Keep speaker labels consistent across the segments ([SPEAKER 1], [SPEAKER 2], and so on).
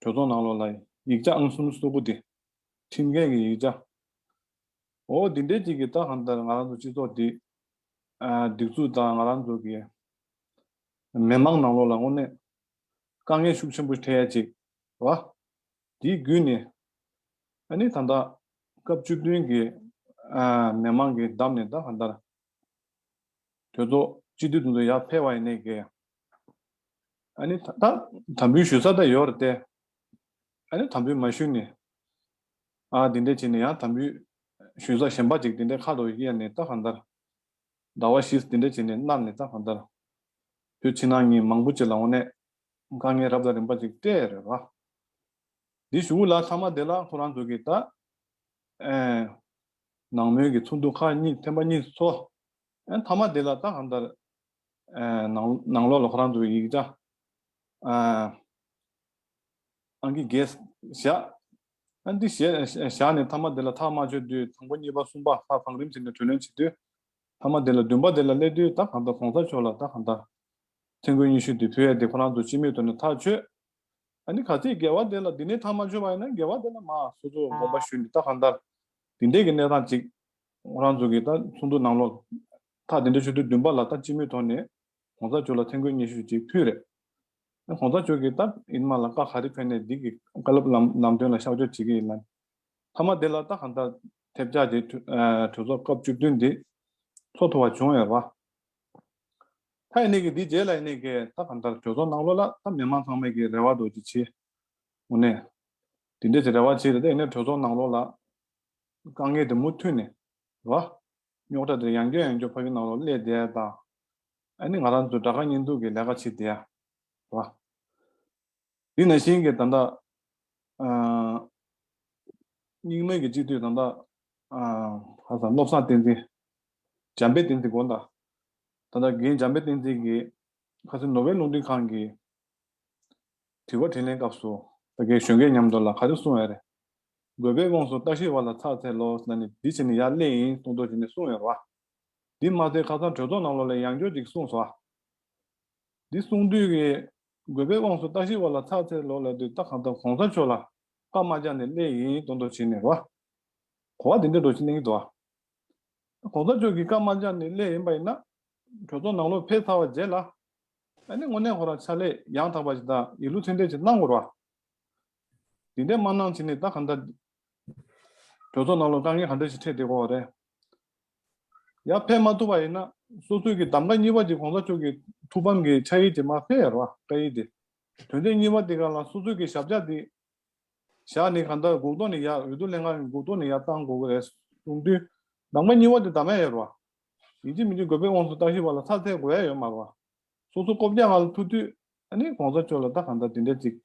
[SPEAKER 1] གྲོས་ཚོགས་ནང་ལོགས་ལ་ཡིག་ཆ་ཨང་གསུམ་བསུ་དགོས་ཏེ། ཁྲིམས་འགལ་གྱི་ཡིག་ཆ། འོ་འདི་འདྲའི་ཅིག་གིས་ད་གང་ལྟར་ང་རང་ཚོ་སྤྱི་ཚོགས་འདི། སྡིགས་ཚུགས་དང་ང་རང་ཚོ་གི། མི་དམངས་ནང་ལོགས་ལ་དངོས་གནས། དཀའ་ངལ་ཤུགས་ཆེན་པོ་འཕྲད་ཡ་ཅིག་བ། དེའི་བརྒྱུད་ནས། ཨ་ནི་ད་ལྟ། སྐབས་བཅུ་བདུན་གྱི། མི་དམངས་ཀྱི་འདམས་ནས་ད་གང་ལྟར། དོལ་ཚོགས་སྤྱི་འཐུས་དུང་དུང་ཡག་ཕེ་བ་ཡིན་ནའི་གེ། ཨ་ནི་ད་དམ་འབུལ་ཞུ་ས་ད་ཡོད་རེད་ཏེ། ཨ་ནི་དམ་འབུལ་མ་ཞུས་ནས། ཨ་དེ་འད་བྱས་ནས་ཡང་དམ་འབུལ་ཞུས་ས་གཞན་པ་ཅིག་དེ་འད་ཁ་ལོ་གཡས་ནས་ལྟ་གང་ལྟར། ཟླ་བ་ཞིས་དེ་འད་བྱས་ནས་གནར་ནས་ལྟ་གང་ལྟར། བོད་ཕྱི་ནང་གཉིས་མང་པོ་ཅིག་ལ་འོ་ནས་དཀའ་ངལ་རབ་དང་རིམ་པ་ཅིག་སྤྲད་རེད་བ། འདི་ཞུ་གུ་ལ་ཚང་མ་དེ་ལ་ཁོ་རང་ཚོ་གིས་ད། ནང་མོལ་གྱི་ཚོགས་འདུ་ཁག་གཉིས་ཐེངས་པ་གཉིས་སུ་འཚོགས། མཐའ་མ་དེ་ལ་རྟ་གང་ལྟར། ནང་ལོགས་ལ་ཁོ་རང་ཚོའི་ཡིག་ཆ། ཨང་ཀི་བརྒྱད། བཞག། འདི་བཞག་ནས་མཐའ་མ་དེ་ལ་ཐག་མ་ཆོད་དུས་དང་པོ་གཉིས་པ་གསུམ་པ་ལྷག་གང་རིམ་བྱས་ནས་གྲོས་ལན་བྱེད་དུས། མཐའ་མ་དེ་ལ་བདུན་པ་དེ་ལ་སླེབས་དུས་རྟ་གང་ལྟར་གོང་ས་མཆོག་ལ་རྟ་གང་ལྟར། ཐེངས་དགུ་ཉི་ཤུ་དེ་ཕུལ་ཡས་དེ་ཁོ་རང་ཚོ་སྤྱི་མོས་དོར་ནས་ཐག་ཆོད། འདི་ག་ཚད་འགལ་བ་དེ་ལ་འདི་ནས་ཐག་མ་ཆོད་པ་ཡིན་ན་འགལ་བ་དེ་ལ་མ་སོ་སོ་དགོངས་པ་ཞུས་ནས་རྟ་གང་ལྟར་དེ་འདྲའི་གི་གནས་སྟངས་ཅིག་རང་ཚོ་གི་ད་ཚོགས་འདུ་ནང་ལོག་ཐག་དེ་འདྲའི་ཆུ་ཚོད་བདུན་པ་ལ་ད་སྤྱི་མོས་ཐོག་ནས་གོང་ས་མཆོག་ལ་ཐེངས་དགོས་སྙན་ཞུ་ཅིག་ཕུལ་རེད་ཨ་གོང་ས་མཆོག་གི་ད་ཨིན་མ་ལ་བཀའ་ག་རེ་ཕེབས་ནས་འདི་གི་བཀའ་སློབ་ལམ་ལམ་སྟོན་ལ་ཤག་འཇོག་བྱེད་གི་ཡིན་ནམ་ཐ་མ་དེ་ལ་ད་གང་ལྟར་ཐེབས་ཆག་དེ་གྲོས་ཚོགས་སྐབས་བཅུ་བདུན་འདི་ཚོགས་ཐུབ་བ་བྱུང་ཡོད་ར་ད་ཡེ་ནས་གི་འདི་རྗེས་ལ་ཡེ་ནས་གི་ད་གང་ལྟར་གྲོས་ཚོགས་ནང་ལོག་ལ་ད་མི་མང་ཚང་མས་གི་རེ་བ་དོ་ཅི་ཆེ། དངོས་གནས། དེ་འདྲའི་རེ་བ་བྱས་ཏེ་གནས་གྲོས་ཚོགས་ནང་ལོགས་ལ། དཀའ་ངལ་དེ་མུ་མཐུད་ནས། རེད་བ། རྙོག་དྲ་དེ་ཡང་སྐྱོ་ཡང་སྐྱོ་ཕ་གི་ནང་ལོགས་སླེད་བསྡད་ད། ཨ་ནི་ང་རང་ཚོས་དགྲ་དགའ་གཉེན་སྡུག་གི་ལས་ཀ་བྱེད་བསྡད་ཡ། རེད་བ། དེ་ན་བཞིན་གྱི་ད་ལྟ། སྙིང་དམར་གྱི་སྤྱི་མཐུས་ད་ལྟ། ཧ་ས་བློ་བཟང་བསྟན་འཛིན། འཇམ་དཔལ་བསྟན་འཛིན་དགོངས་དག། ད་ལྟ་རྒན་འཇམ་དཔལ་བསྟན་འཛིན་གྱིས། ཁ་སེ་ནོ་བེལ་རླུང་འཕྲིན་ཁང་གི། དྲི་བ་དྲིས་ལན་སྐབས་སུ། ས་སྐྱའི་གཞོན་སྐྱེས་མཉམ་དུ་ལ་ཁ་རེ་གསུང་ཡ་རེད། དགོས་པའི་དབང་སུ་ལྟ་ཞིབ་བ་ལ་ཚགས་ཚད་ལོ་ཟླ་ནི་འདི་བྱས་ནི་ཡག་ལེ་ཡིན་གསུང་ཐོ་བྱས་ནི་གསུང་ཡོད་ར། འདི་མ་ཚད་ཁ་སང་གྲོས་ཚོགས་ནང་ལོ་ལེ་ཡང་སྐྱོར་ཅིག་གསུང་སོ། འདི་གསུང་དུས་ཀྱི། དགོས་པའི་དབང་སུ་ལྟ་ཞིབ་བ་ལ་ཚགས་ཚད་ལོ་ལེ་དུས་ལྟ་གང་ལྟ་གོང་ས་མཆོག་ལ་ཀ་མ་བཅག་ནི་ལེ་ཡིན་གསུང་ཐོ་བྱས་ནི་ར། གོ་བ་དེ་འདྲས་འགྲོ་ཕྱིན་གླེང་གི་འདུག་ཨ། གོང་ས་མཆོག་གིས་ཀ་མ་བཅག་ནི་ལེ་ཡིན་པ་ཡིན་ན། གྲོས་ཚོགས་ནང་ལོ་ཕེ་ཚ་བ་བརྗེད་ལ། ཨ་ནི་སྔོ་ནད་ཧོར་ར་ཆ་ལས་ཡང་དག་པ་ཞིག་དང་ཡིག་ལུགས་ཚད་ལྡན་ཞིག་གནང་དགོས་ར། འདི་འདྲའི་མ་གནང་བྱས་ནས་ད་ག་འདྲ། གྲོས་ཚོགས་ནང་ལ་དཀའ་ངལ་ག་འདྲ་ཞིག་འཕྲད་བསྡད་དགོས་བ་རེད། ཡར་ཕེབས་མ་ཐུབ་པ་ཡིན་ན་སོ་སོས་ཀྱི་གདམ་ག་གཉིས་པ་དེ་གོང་ས་མཆོག་གི་ཐུགས་ཕམ་གྱི་ཕྱག་ཡིག་དེ་མ་ཕེབས་ར་བཀའ་ཡིག་དེ། དོན་དེ་གཉིས་པ་དེ་ག་ལ་སོ་སོས་ཀྱི་ཞབས་ཕྱག་དེ་བཞག་ནས་ག་འདྲ་གུག་ཏོ་ནས་ཡར་འོས་བསྡུ་ལྷན་ཁང་གི་གུག་ཏོ་ནས་ཡར་བཏང་དགོས་གི་རེད་གསུངས་དུས་གདམ་ག་གཉིས་པ་དེ་ད་མ་ཡོད་ར། ཡིན་གཅིག་མིན་གཅིག་དགོས་པའི་དབང་དུ་བཏང་ཞིག་བ་ལ་ཚ་ཚའི་དགོས་ཡ་ཡོད་མ་རུང། སོ་སོ་ཀོ་བརྒྱག་ང་ལ་ཐུག་དུས། ཨ་ནི་གོང་ས་མཆོག་ལ་ད་གང་ལྟར་དེ་འདྲའི་ཅིག།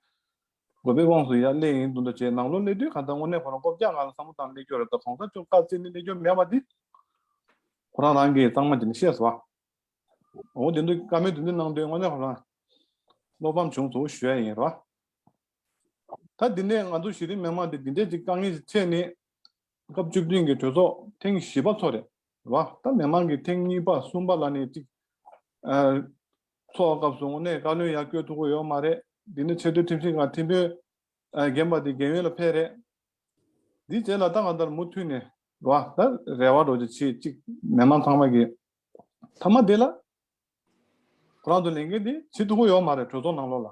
[SPEAKER 1] དགོས་པའི་དབང་སུ་ཡ་ཀླས་ཡིན་འདུག་འདྲ་བྱས་ནང་ལོ་ཀླས་དུས་གང་ལྟར་དངོས་གནས་ཁོ་རང་ཀོ་བརྒྱག་ང་ལ་བསམ་བློ་བཏང་ཀླས་ཁྱོད་ར་ད་གོང་ས་མཆོག་བཀའ་བསྩལ་ནས་ཀླས་ཁྱོད་མེད་བ་འདི། ཁོ་རང་རང་གིས་གཙང་མ་བྱས་ནས་ཤེས་སོ། འོ་དེ་འདུག་བཀའ་མོལ་དེ་འདི་གནང་དུས་དངོས་གནས་ཁོ་རང། བློ་ཕམ་བྱུང་ཚུལ་ཞུ་ཡ་ཡིན་རོ། ད་འདི་ནས་ང་ཚོ་གཞི་རིམ་མི་མང་འདི་འདི་འདྲའི་ཅིག་དཀའ་ངལ་ཞིག་འཕྲད་ནས། སྐབས་བཅུ་བདུན་གྱི་གྲོས་ཚོགས་ཐེངས་བཞི་པ་འཚོགས་རེད་བ། ད་མི་མང་གི་ཐེངས་གཉིས་པ་གསུམ་པ་ལ་ནས་ཅིག་འཚོགས་སྐབས་བཟུང་ནས་བཀའ་བློན་ཡར་བསྐྱོད་ཐུབ་གི་ཡོད་མ་རེད་འདི་ནི་ཆེས་མཐོའི་ཁྲིམས་ཞིབ་ཁང་ཐིམ་དཔོན་རྒན་པ་དེ་རྒན་ཡོལ་ལ་ཕེབས་རེད། འདིའི་རྗེས་ལ་ད་གང་ལྟར་མུ་མཐུད་ནས་བ་ད་རེ་བ་འགྲོ་རྒྱུ་བྱེད་ཅིག་མི་མང་ཚང་མ་གི་མཐའ་མ་དེ་ལ། ཁོ་རང་ཚོ་ལས་འགན་དེ་བྱེད་ཐུབ་གི་ཡོད་མ་རེད་གྲོས་ཚོགས་ནང་ལོགས་ལ།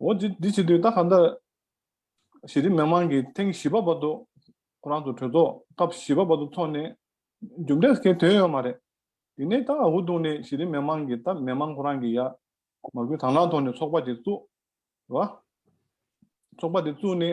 [SPEAKER 1] འོ་དེ་དེ་བྱེད་དུས་ད་ག་འདྲ། གཞི་རིམ་མི་མང་གིས་ཐེངས་བཞི་པ་བར་དུ་ཁོ་རང་ཚོ་གྲོས་ཚོགས་སྐབས་བཞི་པ་བར་དུ་འཚོགས་ནས་རྒྱུ་འབྲས་སུ་ཁེལ་དོན་ཡོད་མ་རེད། དེ་ནས་ད་འུར་བརྡུང་ནས་གཞི་རིམ་མི་མང་གིས་ད་མི་མང་ཁོ་རང་གིས་ཡ། མ་གུས་དང་བླངས་ཐོག་ནས་ཚོགས་པ་དེ་བཙུགས། ཚོགས་པ་དེ་བཙུགས་ནས།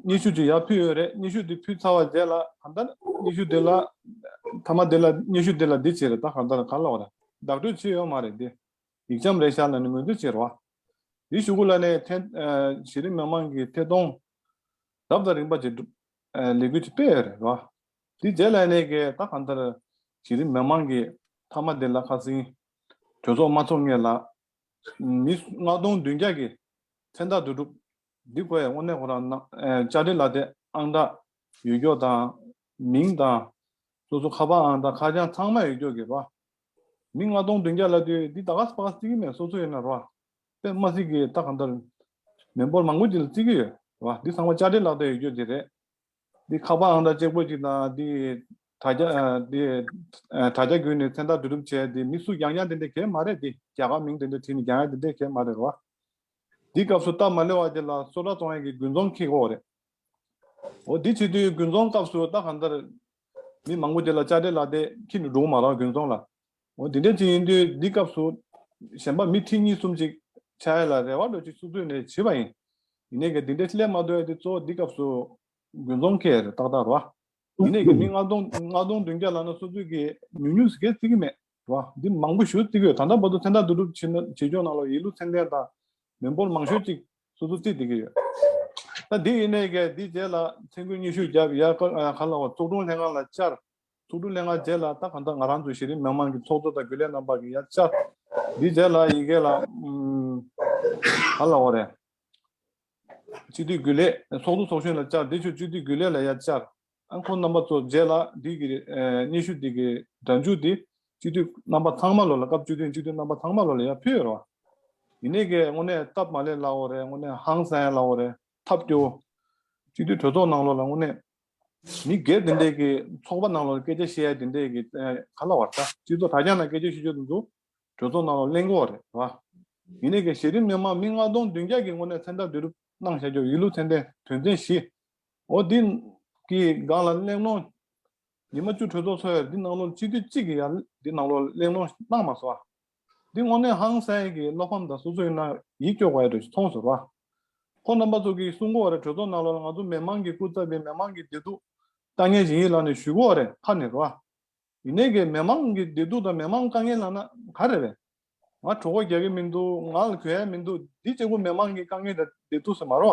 [SPEAKER 1] སྙི་ཤུ་དེ་ཡར་ཕུད་ཡོད་རེད་སྙི་ཤུ་དེ་ཕུད་ཚར་བ་རྗེས་ལ་གང་ལྟར་སྙི་ཤུ་དེ་ལ། མཐའ་མ་དེ་ལ་སྙི་ཤུ་དེ་ལ་འདི་བྱས་རེད་ད་གང་ལྟར་གར་ལོག་རེད་བདག་སྤྲོད་བྱས་ཡོད་མ་རེད་དེ། ཡིག་འཆམ་རེ་ཤར་ན་ནི་ངོས་འཛིན་བྱེད་རོགས། ཡི་ཞུ་གུ་ལ་ནས་ཐེ། གཞི་རིམ་མི་མང་གི་ཐེ་གཏོང། ཟབ་དང་རིམ་པ་བཅས་སྒྲུབ། ལས་འགུལ་ཅིག་སྤེལ་ཡོད་རེད་རོགས། དེ་རྗེས་ལ་ནས་ཀྱི་ད་གང་ལྟར། གཞི་རིམ་མི་མང་གི་མཐའ་མ་དེ་ལ་ཁ་སིང། གྲོས་ཚོགས་མ་ཚོགས་ངེས་ལ། མི་སུ་ལྔ་སྟོང་བདུན་བརྒྱ་གི། མཚན་རྟགས་བསྡུ་སྒྲུབ། འདི་དགོས་ཡ་དངོས་གནས་ཁོ་རང་ནང་བཅའ་ཁྲིམས་ལ་དེ་ཨང་རྟགས་ཡོད་ཀྱོག་དང་མིང་དང་སོ་སོ་ཁ་པར་ཨང་རྟགས་ཁ་བྱང་ཚང་མ་ཡོད་ཀྱོག་གི་ར་མི་ལྔ་སྟོང་བདུན་བརྒྱ་ལ་དུས་འདི་ད་ག་ས་པ་ག་རྩི་གི་མེད་སོ་སོ་ཡིན་ན་ར་པེ་མ་གཟིགས་གི་ད་ག་འདར་མེད་འབོར་མང་པོ་ཅིག་ལ་རྩི་གི་ཡོད་ར་འདི་ཚང་མ་བཅའ་ཁྲིམས་ལག་དེ་ཡོད་ཀྱོག་གི་རེད་འདི་ཁ་པར་ཨང་རྟགས་ཅེས་བཀོད་ཅིག་དང་འདི་དྲ་རྒྱ་འདི་དྲ་རྒྱ་བརྒྱུད་ནས་མཚན་རྟགས་འབྲི་སྒྲུབ་བྱས་འདི་མི་སུ་ཀྱང་ཀྱང་དེ་འདྲ་གས་མ་རེད་འདི་རྒྱ་གར་མིང་དེ་འདྲ་བྲིས་ནས་ཀྱང་ཡང་དེ་འདྲ་གས་མ་རེད་ར་འདིའི་སྐབས་སུ་རྟ་མ་ལེ་བ་དེ་ལ་སོ་ཏྲ་ཙོང་ཡན་གྱི་དགུན་ཙོང་ཁིག་ཧོ་རེད། འོ་དེ་ཚེ་དུས་དགུན་ཙོང་སྐབས་སུ་རྟ་གང་ལྟར། མི་མང་པོ་དེ་ལ་ལྕགས་དྲེལ་ལག་སྟེ་ཁྱིམ་དུ་སྒྲུང་མ་རག་དགུན་ཙོང་ལ། འོ་དེ་འདྲའི་ཚིག་ཡིན་དུས་འདི་སྐབས་སུ། གཞན་པ་མི་ཁྲི་གཉིས་གསུམ་ཅིག་ཆ་ཡ་ལ་རེ་བ་འགྲོ་ཅིག་སུ་ཚུད་ནས་བྱིས་པ་ཡིན། ཡིན་ནས་ཀྱི་འདི་འདྲའི་སླད་མ་དོད་དེ་ཚོ་འདི་སྐབས་སུ། དགུན་ཙོང་ཁེ་རེ་ཏག་ཏག་རོ། ཡིན་ནས་ཀྱི་མི་ལྔ་སྟོང་མདུན་བརྒྱ་ལ་ན་སོ་ཚུད་ཀྱི་ཉུག་ཉུག་ཟི་གས་ཚིག་གི་མེད། བ། འདི་མང་པོ་ཞུ་རྩིས་ཡོད་ད་ལྟ་བར་དུ་ཚན་རྟགས་བསྡུ་སྒྲུབ་ཇི་ནོར་ཇི་འབྱོངས་གནང་ལོ་ཡིན་ལུགས་མཚན་ལྡན་དང་མི་འབོར་མང་ཤོས་ཅིག་སོ་སོར་རྩིས་བསྡུ་གི་ཡོད། ད་འདི་ཡིན་ནའི་གལ་འདི་རྗེས་ལ་མཚན་སྐུལ་སྙན་ཞུ་རྒྱབ་ཡ་ཀར་ཨ་ཡ་གྷ་ལ་བ་ཚོགས་དྲུང་ལྷན་ཁང་ལ་བཅར། ཚོགས་དྲུང་ལྷན་ཁང་རྗེས་ལ་ད་གང་ལྟར་ང་རང་ཚོ་གཞི་རིམ་མི་མང་གི་ཚོགས་གཙོ་དང་རྒྱུན་ལས་རྣམ་པ་གི་ཡ་བཅར། འདི་རྗེས་ལ་ཡི་གེ་ལ་གྷ་ལ་བ་རེད། སྤྱི་འཐུས་རྒྱུན་ལས། ཚོགས་གཙོ་ཚོགས་གཞོན་ལ་བཅར་འདི་ཆུ་སྤྱི་འཐུས་རྒྱུན་ལས་ལ་ཡ་བཅར། རླངས་འཁོར་རྣམ་པ་གཙོ་བརྒྱད་ལ་འདུས་ཀྱི་རེད། སྙན་ཞུ་དེ་གའི་སྒྲ་འཇུག་དེ་སྤྱི་འཐུས་རྣམ་པ་ཚང་མ་ལོ་ལ་སྐབས་བཅུ་བདུན་སྤྱི་འཐུས་རྣམ་པ་ཚང་མ་ལོ་ལ་ཡང་ཕུལ་ཡོད་རེད་བ། ཡིན་ནའི་གས་དངོས་གནས་སྟབས་མ་ལེགས་སླ་བོ་རེད་དངོས་གནས་ཧང་སངས་སླ་བོ་རེད་ཐབས་སྐྱོ་བོ། སྤྱི་འཐུས་གྲོས་ཚོགས་ནང་ལོ་ལ་དངོས་གནས། མི་སྒེར་དེ་འདྲས་ཀྱི་ཚོགས་པ་ནང་ལོ་ལ་སྐད་ཆ་བཤད་ཡ་དེ་འདྲས་ཀྱི་ག་ལ་བ་ད་སྤྱི་ཚོགས་དྲ་རྒྱ་ནང་སྐད་ཆ་ཤོད་ཆོད་དུ་འདུག་གྲོས་ཚོགས་ནང་ལོ་གླེང་གོ་རེད་བ། ཡིན་ནའི་གས་གཞི་རིམ་མི་དམངས་མི་ལྔ་སྟོང་བདུན་བརྒྱ་ཀྱི་དངོས་གནས་མཚན་རྟགས་བསྡུ་རུབ་གནང་བྱ་རྒྱུ་ཡིན་ལུགས་མཚན་ལྡན་དོན་ཚན་བཞི་འོ་འདི་གི་སྒང་ལ་གླེང་སློང། ཉི་མ་བཅུ་གྲོས་ཚོགས་འཚོགས་ཡར་འདི་གནང་ལུགས་སྤྱི་འཐུས་གཅིག་གིས་ཡར་འདི་གནང་ལུགས་གླེང་སློང་གནང་མ་སོང། འདི་དངོས་གནས་ཧང་སངས་ཀྱི་བློ་ཕམ་དང་སོ་སོ་ཡིན་ན་ཡིད་སྐྱོ་བ་ཡོད་དུ་ཚོང་ཟུར་བ། ཁོ་རྣམ་པ་ཚོ་གིས་སུ་མགོ་བ་རེ་གྲོས་ཚོགས་གནང་ལོར་ང་ཚོ་མི་མང་གི་སྐུ་ཚབ་པའི་མི་མང་གི་བདེ་སྡུག་དཀའ་ངལ་བཞིན་ཡིད་ལང་ནས་ཞུ་གོ་རེ་ཕར་ནས་རོ། ཡིན་ནའི་གི་མི་མང་གི་བདེ་སྡུག་དང་མི་མང་དཀའ་ངལ་ལང་ན་ག་རེ་རེད། ང་གྲོ་གོ་རྒྱག་གི་མིན་འདུག་ང་ལ་གོ་ཡ་མིན་འདུག་འདི་གཅིག་པུ་མི་མང་གི་དཀའ་ངལ་དང་བདེ་སྡུག་སེ་མ་རོ།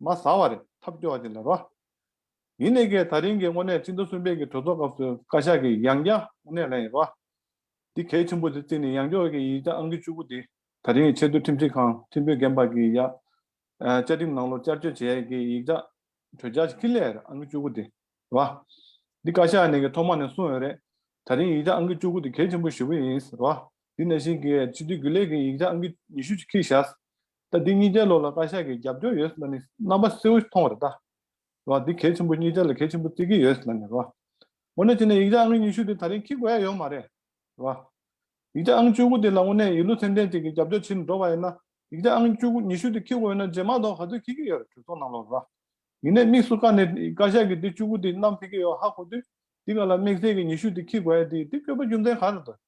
[SPEAKER 1] མ་ཟ་བ་རེད་ཐབས་སྐྱོ་བ་ཅིག་ལབ་རོགས། ཡིན་ནའི་གའི་ད་རིང་གི་དངོས་གནས་སྤྱི་འདུ་གསུམ་པའི་གི་གྲོས་ཚོགས་སྐབས་སུ་བཀའ་ཤག་གི་ཡང་བསྐྱར་དངོས་གནས་ལན་ཡིན་རོགས། འདི་གལ་ཆེན་པོ་དེ་བརྩིས་ནས་ཡང་སྐྱོར་གི་ཡིག་ཆ་ཨང་གི་བཅུ་དགུ་དེ་ད་རིང་གི་ཆེས་མཐོའི་ཁྲིམས་སྒྲིག་ཁང་ཁྲིམས་དཔོད་རྒན་པ་གི་ཡང་བསྐྱར་ཁྲིམས་ནང་ལོག་བསྐྱར་བཅོས་བྱས་ཡས་གི་ཡིག་ཆ་གྲོས་འཆར་གི་ཁི་ལས་རེད་ཨང་གི་བཅུ་དགུ་དེ་རོགས། འདི་བཀའ་ཤག་ནས་གི་ཐོག་མ་ནས་གསུང་ཡོད་རེད་ད་རིང་ཡིག་ཆ་ཨང་གི་བཅུ་དགུ་དེ་གལ་ཆེན་པོ་ཞེ་པོ་ཡིན་རོགས་འདི་ནས་བཞིན་གི་སྤྱི་འཐུས་རྒྱུན་ལས་གི་ཡིག་ཆ་ཨང་གི་ཉི་ཤུ་ཅིག་ཁི་བཞག་ད་འདི་གཉིས་ཀའི་ལོགས་ལ་བཀའ་ཤག་གིས་རྒྱབ་སྐྱོར་ཡོད་ཟེར་ན་ནི་རྣམ་པ་གསལ་བོ་མཐོང་བ་རེད་ད། རེད་བ། འདི་གལ་ཆེན་པོ་གཉིས་ཀྱ་ལ་གལ་ཆེན་པོ་རྩིས་ཀྱི་ཡོད་ཟེར་ན་ནི་རེད་བ། འོ་ན་དེ་ནས་ཡིག་ཆ་ཨང་ཉི་ཤུ་དེ་ད་རིང་འཁྱིལ་དགོས་ཡ་ཡོད་མ་རེད་བ། ཡིག་ཆ་ཨང་བཅུ་དགུ་དེ་ལ་དངོས་གནས་ཡིག་ལུགས་ཚན་ལྡན་ཅིག་གིས་རྒྱབ་སྐྱོར་བྱེད་ནས་འགྲོ་བ་ཡིན་ན་ཡིག་ཆ་ཨང་བཅུ་ཉི་ཤུ་དེ་འཁྱིལ་དགོས་ཡོད་ན་རྗེས་མ་གཏོགས་ག་ཚོད་འཁྱིལ་གྱི་ཡོད་རེད་གྲོས་ཚོགས་ནང་ལོགས་ལ། ཡིན་ནས་དམིགས་སུ་བཀར་ནས་བཀའ་ཤག་གིས་འདི་བཅུ་དགུ་དེ་བསྣམས་ཕེབས་ཀྱི་ཡོད་ཧ་གོ་དུས་འདི་ག་ལ་དམིགས་བསལ་གྱི་ཉི་ཤུ་དེ་འཁྱིལ་དགོས་ཡ་དེ་འདི་བཀོད་པ་རྒྱུ་མཚན་ག་རེ་རེད།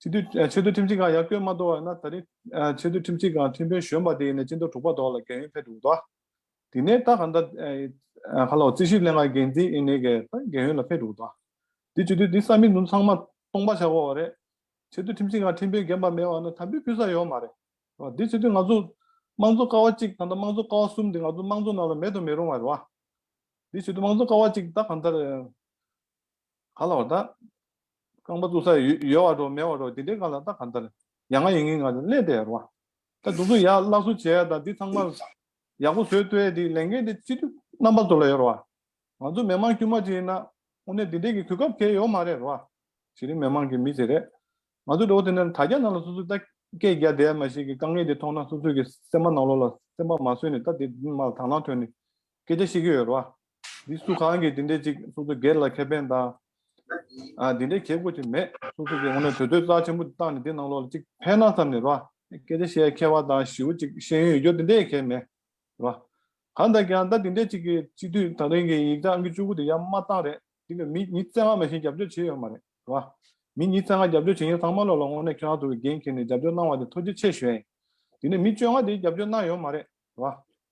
[SPEAKER 1] ཆེས་མཐོའི་ཁྲིམས་ཁང་ཡག་བསྐྱོད་མ་གཏོགས་ཡོད་ན་ད་རིང་ཆེས་མཐོའི་ཁྲིམས་ཁང་ཐུན་བོན་གཞོན་པ་དེ་ཡིན་ནས་སྤྱི་འཐུས་དྲུག་པ་དོག་ལ་འགན་ཡོད་ཕེབས་འདུག་དོག་དེ་ནས་ད་ག་འདྲ་ཧ་ལོ་རྩིས་ཞིབ་ལས་ང་འགན་འཛིན་ཨིན་ནས་གས་ད་འགན་ཡོད་ལ་ཕེབས་འདུག་དོག་དེ་བྱུས་དུས་དེ་ས་མིག་འཛུམ་ཚང་མ་སྟོང་པ་ཆགས་གོ་བ་རེད་ཆེས་མཐོའི་ཁྲིམས་ཁང་ཁྲིམས་དཔོན་རྒན་པ་མེད་བ་ན་དམ་འབུལ་ཕུལ་ས་ཡོད་མ་རེད་དོག་དེ་བྱུས་དུས་ང་ཚོ་དམངས་གཙོ་ཀ་བ་གཅིག་དང་ད་དམངས་གཙོ་ཀ་བ་གསུམ་དེ་ང་ཚོ་དམངས་གཙོ་ནང་ལ་མེད་དུ་མི་རུང་བ་རེད་དོག་དེ་བྱུས་དུས་དམངས་གཙོ་ཀ་བ་གཅིག་ད་ག་འདྲ་ག་ལ་བ་ད། རྐང་པ་བཙུགས་ས་ཡོད་བ་འགྲོ་མེད་བ་འགྲོ་དེ་འདྲའི་ཀ་ལ་ད་ག་འདྲ། ཡ་ང་ཡིན་ངིན་ང་ཚོ་གླེན་དེ་ར་བ། ད་སྡུག་སྡུག་ཡག་བརླག་བཟོ་བྱས་ད་འདི་ཚང་མ། ཡག་པོ་བཟོས་བསྟོད་དེ་ལས་འགན་དེ་སྤྱི་འཐུས་རྣམ་པ་ཚོ་ལ་ཡོད་ར་བ། ང་ཚོ་མི་མང་དཀྱུས་མ་གཅིག་ཡིན་ན། དངོས་གནས་འདི་འདྲའི་གི་གུས་སྐབས་ཁེལ་ཡོད་མ་རེད་ར་བ། གཞི་རིམ་མི་མང་གི་མི་ཚེ་རེད། ང་ཚོ་འགྲོ་བ་དེ་ནས་ད་རྒྱ་ནག་ལ་སོ་སོས་ད་སྐད་རྒྱ་དད་མ་ཞིག་གི་དཀའ་ངལ་དེ་མཐོང་ན་སོ་སོས་གི་སེམས་པ་ནག་ལོ་ལ་སེམས་པ་མ་བཟོས་ནས་ད་དེ་མ་དང་ལང་ཐོན་ནས་སྐད་ཆ་ཤི་གི་ཡོད་རེད་བ། འདི་སུ་གང་གིས་དེ་འདྲའི་ཅིག་སོ་སོ་སྒེར་ལ་ཁེ་ཕན་དང། དེ་འདྲའི་གྱེས་དགོས་ཅིག་མེད་སོ་སོ་གིས་ངོ་ནས་གྲོས་བསྡུར་རྩ་ཆེན་པོ་བཏང་ནས་དེ་ནང་ལོག་ལ་ཅིག་ཕན་ན་བསམ་ནས་རེད་བ། སྐད་ཆ་བཤད་མཁས་བ་དང་ཞིའུ་ཅིག་ཤེས་ཡོན་ཡོད་རྒྱུ་དེ་འདྲའི་གལ་མེད་རེད་བ། གང་ལྟར་ཀྱང་ཟླ་དེ་འདྲའི་ཅིག་གི་སྤྱི་འཐུས་ཐང་རིང་གིས་ཡིག་ཚགས་ཨང་གི་བཅུ་དགུ་དེ་ཡར་མར་བཏང་རེད་འདི་ལ་མི་གཉིས་བརྩེ་ང་མ་ཞིག་རྒྱབ་སྐྱོར་བྱེད་ཡོད་མ་རེད་བ། མི་གཉིས་བརྩེ་ང་རྒྱབ་སྐྱོར་བྱེད་མཁན་ཚང་མ་ལོག་ལ་ངོ་ནས་ཁྱོད་རང་ཚོ་གིས་འགན་འཁྱེར་ནས་རྒྱབ་སྐྱོར་གནང་བ་དེ་མཐོ་རྒྱུ་ཆེ་ཞོད་ཡིན། དེ་ནས་མི་བཅོ་ལྔ་དེ་རྒྱབ་སྐྱོར་གནང་ཡོད་མ་རེད་བ།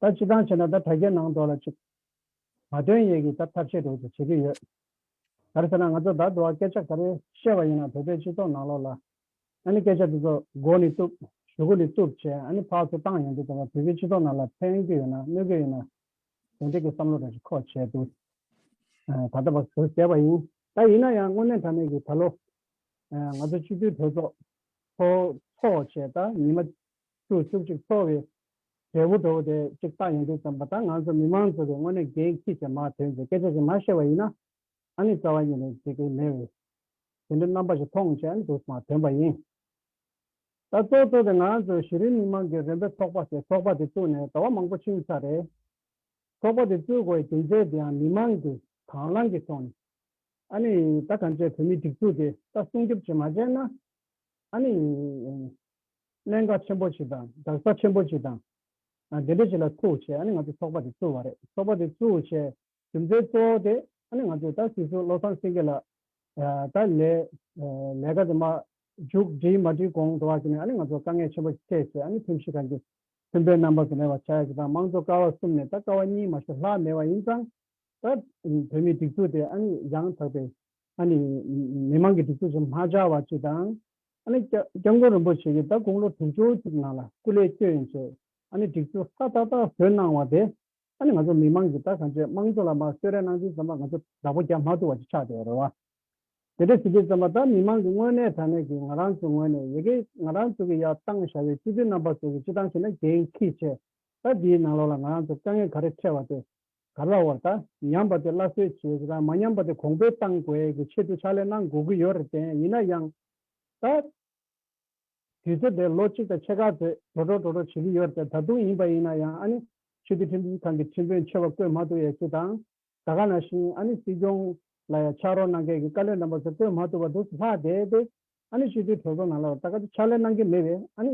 [SPEAKER 2] ད་སྤྱི་སྟངས་བྱས་ན་ད་དྲ་རྒྱའི་ནང་འགྲོ་ལ་ཅིག། མ་དོན་ཡས་ཀྱིས་ད་ཐབས་ཤེས་དྲོད་ཀྱིས་བྱེད་ཀྱི་ཡོད། ག་རེ་ཟེར་ན་ང་ཚོ་ད་འགྲོ་བ་སྐད་ཆ་ག་རེ་བཤད་པ་ཡིན་ན་བོད་པའི་སྤྱི་ཚོགས་ནང་ལོག་ལ། ཨ་ནི་སྐད་ཆ་དེ་ཚོ་མགོ་ནས་གཏུབ། གཞུ་གུ་ནས་གཏུབ་བྱས་ཨ་ནི་ཕག་ཚོ་བཏང་ཡོང་དུས་ད་བར་བོད་པའི་སྤྱི་ཚོགས་ནང་ལ་ཕན་རྒྱུ་ཡོད་ན་གནོད་རྒྱུ་ཡོད་ན། དོན་འགྲིག་གི་བསམ་བློ་དྲ་ཞིག་ཁོག་བྱས་འདུག་ད་ལྟ་བར་གཟོད་བསྡད་པ་ཡིན། ད་ཡིན་ན་ཡང་དངོས་གནས་དྲ་མེད་ཀྱི་ད་ལོ། ང་ཚོ་སྤྱི་འཐུས་གྲོས་ཚོགས། ཚོགས་བྱས་ད་ཉིན་མ། ཤུགས་ཆུབ་ཅིག་གསོལ་བའི། འབྲས་བུ་འགྲོ་བ་དེ་གཅིག་བཏགས་ཡོང་དུས་ཙམ་པ་ད་ང་ཚོ་མི་མང་ཚོ་གི་སྔོན་ནས་འགན་ཁྱི་ཞེས་མ་ཐོས་མཛད་སྐད་ཆ་ཞིག་མ་བཤད་པ་ཡིན་ན་ཨ་ནི་རྩ་བ་ཉིད་ནས་འཇིག་གི་མེད་བས་དེ་འདྲའི་རྣམ་པ་ཞིག་མཐོང་བྱས་ཨ་ནི་འདུག་མ་ཐོན་པ་ཡིན། ད་གཙོ་གཙོ་དེ་ང་ཚོ་གཞི་རིམ་མི་མང་གི་རེ་འབོད་ཚོགས་པ་ཞེས་ཚོགས་པ་དེ་བཙུགས་ནས་ཟླ་བ་མང་པོ་ཕྱིན་ས་རེད། ཚོགས་པ་དེ་བཙུགས་དགོས་བའི་རྒྱུ་མཚན་དེ་ཡང་མི་མང་གི་དྭང་བླང་གི་ཐོག་ནས་ཨ་ནི་ད་གང་ཅད་བོད་མིའི་སྒྲིག་འཛུགས་དེ་ད་སྲུང་སྐྱོབ་བྱེད་མ་བྱས་ན་ཨ་ནི། གནད་འགག་ཆེན་པོ་ཞིག་དང་རྡག་རྩ་ཆེན་པོ་ཞིག་དང། དེ་འདྲ་ཞིག་ལ་ཐུག་བྱས་ང་ཚོས་ཚོགས་པ་དེ་བཙུགས་བ་རེད་ཚོགས་པ་དེ་བཙུགས་བྱས་རྒྱུ་མཚན་གཙོ་བོ་དེ་ང་ཚོས་ད་སྲིད་ཟུར་བློ་བཟང་སེང་གེ་ལགས་ད་ལས་ཀ་དེ་མ་མཇུག་བསྒྲིལ་མ་བསྒྲིལ་གོང་དུ་བ་ཞིག་ནས་ང་ཚོར་དཀའ་ངལ་ཆེན་པོ་ཞིག་འཕྲད་བྱས་ཁྲིམས་ཞིབ་ཁང་གི་ཁྲིམས་དཔོན་རྣམ་པ་དེ་ནས་བ་བྱ་ཡག་གི་དང་དམངས་གཙོ་ཀ་བ་གསུམ་ནས་ད་ཀ་བ་གཉིས་མ་ཞོ་ལྷག་མེད་བ་ཡིན་ཙང་ད་བོད་མིའི་སྒྲིག་འཛུགས་དེ་ཡང་དག་པའི་མི་མང་གི་སྒྲིག་འཛུགས་ཞིག་མ་ཆགས་བ་ཅིག་དང། ཨ་ནི། སྐྱབས་མགོན་རིན་པོ་ཆེ་གིས་ཟླ་དགུང་ལོ་དྲུག་ཅུ་གཅིག་ནང་ལ་སྐུ་ལས་བསྐྱོད་ཡིན་ཞེས་ཨ་ནི་སྒྲིག་འཛུགས་ཧ་ཏག་ཏག་བཟོས་གནང་བ་དེ། ཨ་ནི་ང་ཚོ་མི་མང་གིས་ད་ག་མཆད་དམངས་གཙོ་ལ་མ་གསོད་རེ་གནང་དུས་ཙམ་པ་ང་ཚོ་བདག་པོ་རྒྱག་མ་ཐུབ་བ་ཅིག་ཆགས་བསྡད་རེད་བ། དེ་འདྲ་བྱེད་དུས་ཙམ་པ་ད་མི་མང་གི་དངོས་གནས་དྲང་གནས་ཀྱིས་ང་རང་ཚོའི་ངོས་ནས་ཡི་གེ་ང་རང་ཚོ་གི་ཡ་བཏང་བཞག་པའི་སྤྱི་འཐུས་རྣམ་པ་ཚོ་གི་སྤྱི་བཏང་བྱས་ན་འགན་འཁི་ཆེ། ད་འདིའི་ནང་ལོགས་ལ་ང་རང་ཚོར་དཀའ་ངལ་ག་རེ་འཕྲད་བ་དེ་ག་ལ་བ་དང་ཉམས་པ་དེ་སླར་གསོ་བྱེད་དགོས་དང་མ་ཉམས་པ་དེ་གོང་འཕེལ་གཏང་དགོས་ཀྱི་ཆེད་དུ་ཕྱག་ལས་གནང་དགོས་ཀྱི་ཡོད་རེད་བརྟེན་ཡིན་ན་ཡང་ད་དུས་ཚོད་དེ་ལོ་གཅིག་དང་ཕྱེད་ཀ་ཚོད་དྲོ་དྲོ་དྲོ་དྲོ་བྱེད་ཀྱི་ཡོད་རེད་ད་དུང་ཡིན་པ་ཡིན་ན་ཡང་ཨ་ནི་ཆོས་རྒྱུད་ཁྲིམས་ཁང་གི་ཁྲིམས་དཔོན་ཆེ་བ་བསྐོས་མ་ཐུབ་ཡས་ཅི་དང་ད་ག་ན་བཞིན་ཨ་ནི་སྲིད་སྐྱོང་ལ་ཡང་ཕྱག་རོགས་གནང་མཁན་གྱི་བཀའ་བློན་རྣམ་པ་ཚོ་བསྐོས་མ་ཐུབ་པ་འདུག་ལྷག་དེ་དེ་ཨ་ནི་ཆོས་རྒྱུད་གྲོས་ཚོགས་ནང་ལ་ད་ག་དུས་ཕྱག་ལས་གནང་གི་མེད་པའི་ཨ་ནི་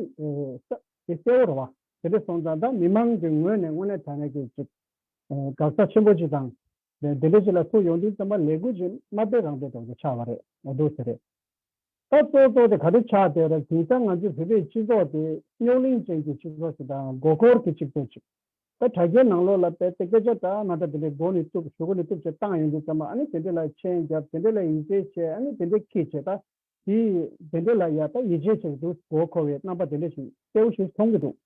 [SPEAKER 2] གསལ་བོ་རེད་བ། དེ་ལས་སོང་ཙང་ད་མི་མང་གི་ངོས་ནས་དངོས་གནས་དྲ་གནས་ཀྱི་ཅིག་དགག་རྩ་ཆེན་པོ་ཅིག་དང། དེ་འདྲའི་ཅིག་ལ་ཐུག་ཡོང་དུས་རྩོམ་པ་ལས་འགུལ་ཅིག་མ་སྤེལ་རང་སྤེལ་གྲོགས་ཀྱི་ཆགས་བ་རེད་འདུག་ཟེར། ད་ཙོག་ཙོག་དེ་ག་རེ་ཆགས་དེ་ར་དེ་ད་ང་ཚོའི་བོད་པའི་སྤྱི་ཚོགས་དེ་རྙོག་གླིང་ཅན་གྱི་སྤྱི་ཚོགས་ཤིག་དང་མགོ་འཁོར་གྱི་སྤྱི་ཚོགས་ཅིག་ད་དྲ་རྒྱའི་ནང་ལོགས་ལ་བལྟས་ཏེ་སྐད་ཆ་དྲ་མ་དྲ་དེ་འདྲའི་མགོ་ནས་བཏུབ་ཞོག་གོ་ནས་བཏུབ་བྱས་བཏང་ཡོང་དུས་ཙམ་ཨ་ནི་དེ་འདྲའི་ལ་མཆན་བརྒྱབ་དེ་འདྲའི་ལ་ཡིག་ཆའི་བཤད་ཨ་ནི་དེ་འདྲའི་ཁིད་བྱས་ད། དེ་དེ་འདྲས་ལ་ཡར་ལྟ་ཡིད་ཆེས་བྱེད་ཀྱི་འདུག་གོ་འཁོར་བའི་རྣམ་པ་དེ་འདྲས་ཤིག་གསལ་བོ་ཞིག་མཐོང་གི་འདུག་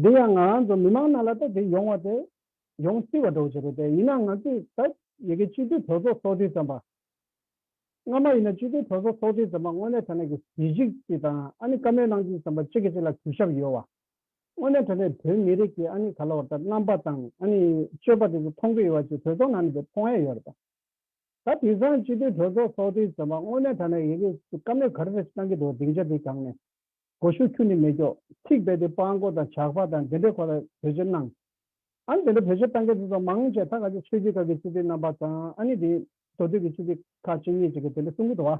[SPEAKER 2] འདི་ཡང་ང་རང་ཚོ་མི་མང་རྣམས་ལ་ལྟ་དེ་ཡོང་བ་དེ་ཡོང་སྲིད་བ་འགྲོ་བྱེད་རེད་དེ་ཡིན་ན་ང་ཚོས་ད་ཡི་གེ་སྤྱི་འཐུས་གྲོས་ཚོགས་ཚོགས་དུས་ཙམ་པ། སྔ་མ་ཡིན་ན་སྤྱི་འཐུས་གྲོས་ཚོགས་ཚོགས་དུས་ཙམ་པ་དངོས་གནས་དྲ་གནས་ཀྱི་གཟི་བརྗིད་ཅིག་དང་ཨ་ནི་བཀའ་མོལ་གནང་རྒྱུ་ཙམ་པ་གཅིག་གི་གཅིག་ལ་གུས་ཞབས་ཡོད་བ། དངོས་གནས་དྲ་གནས་བོད་མི་རིགས་ཀྱི་ཨ་ནི་ག་ལ་བ་ལྟར་རྣམ་པ་དང་ཨ་ནི་སྤྱོད་པ་དེ་ཚོ་མཐོང་གི་ཡོད་བ་ཅིག་གྲོས་ཚོགས་ནང་ནས་དེ་མཐོང་ཡ་ཡོད་རེད་པ། ད་དུས་བཟང་སྤྱི་མཐུན་གྲོས་ཚོགས་ཚོགས་དུས་ཟེར་བ་དངོས་གནས་ཐ་ན་ཡི་གེ་སྐམ་ལེབ་གར་རེད་བསམ་གྱི་འདུག་སྡིངས་ཆ་དེ་གྱང་ནས་སྒོ་ཤུགས་ཁྱུ་ནི་མེ་སྒྱོགས་ཚིག་རྦད་དེ་སྤང་སྒོ་དང་ཇག་པ་དང་དེ་འདྲས་ཁོ་ལ་བེད་སྤྱོད་གནང། ཨ་ནི་དེ་འདྲ་བེད་སྤྱོད་གཏང་མཁན་དེ་ཚོ་མང་ཆེ་ད་ག་ཅིག་ཆོས་རྒྱུད་ཁག་གི་སྤྱི་འཐུས་རྣམ་པ་དང་ཨ་ནི་དེ་འདོ་དུས་ཀྱི་སྤྱི་འཐུས་ཁག་ཅིག་གཉིས་ཅིག་གི་དེ་འདྲ་གསུང་གི་འདུག་བ།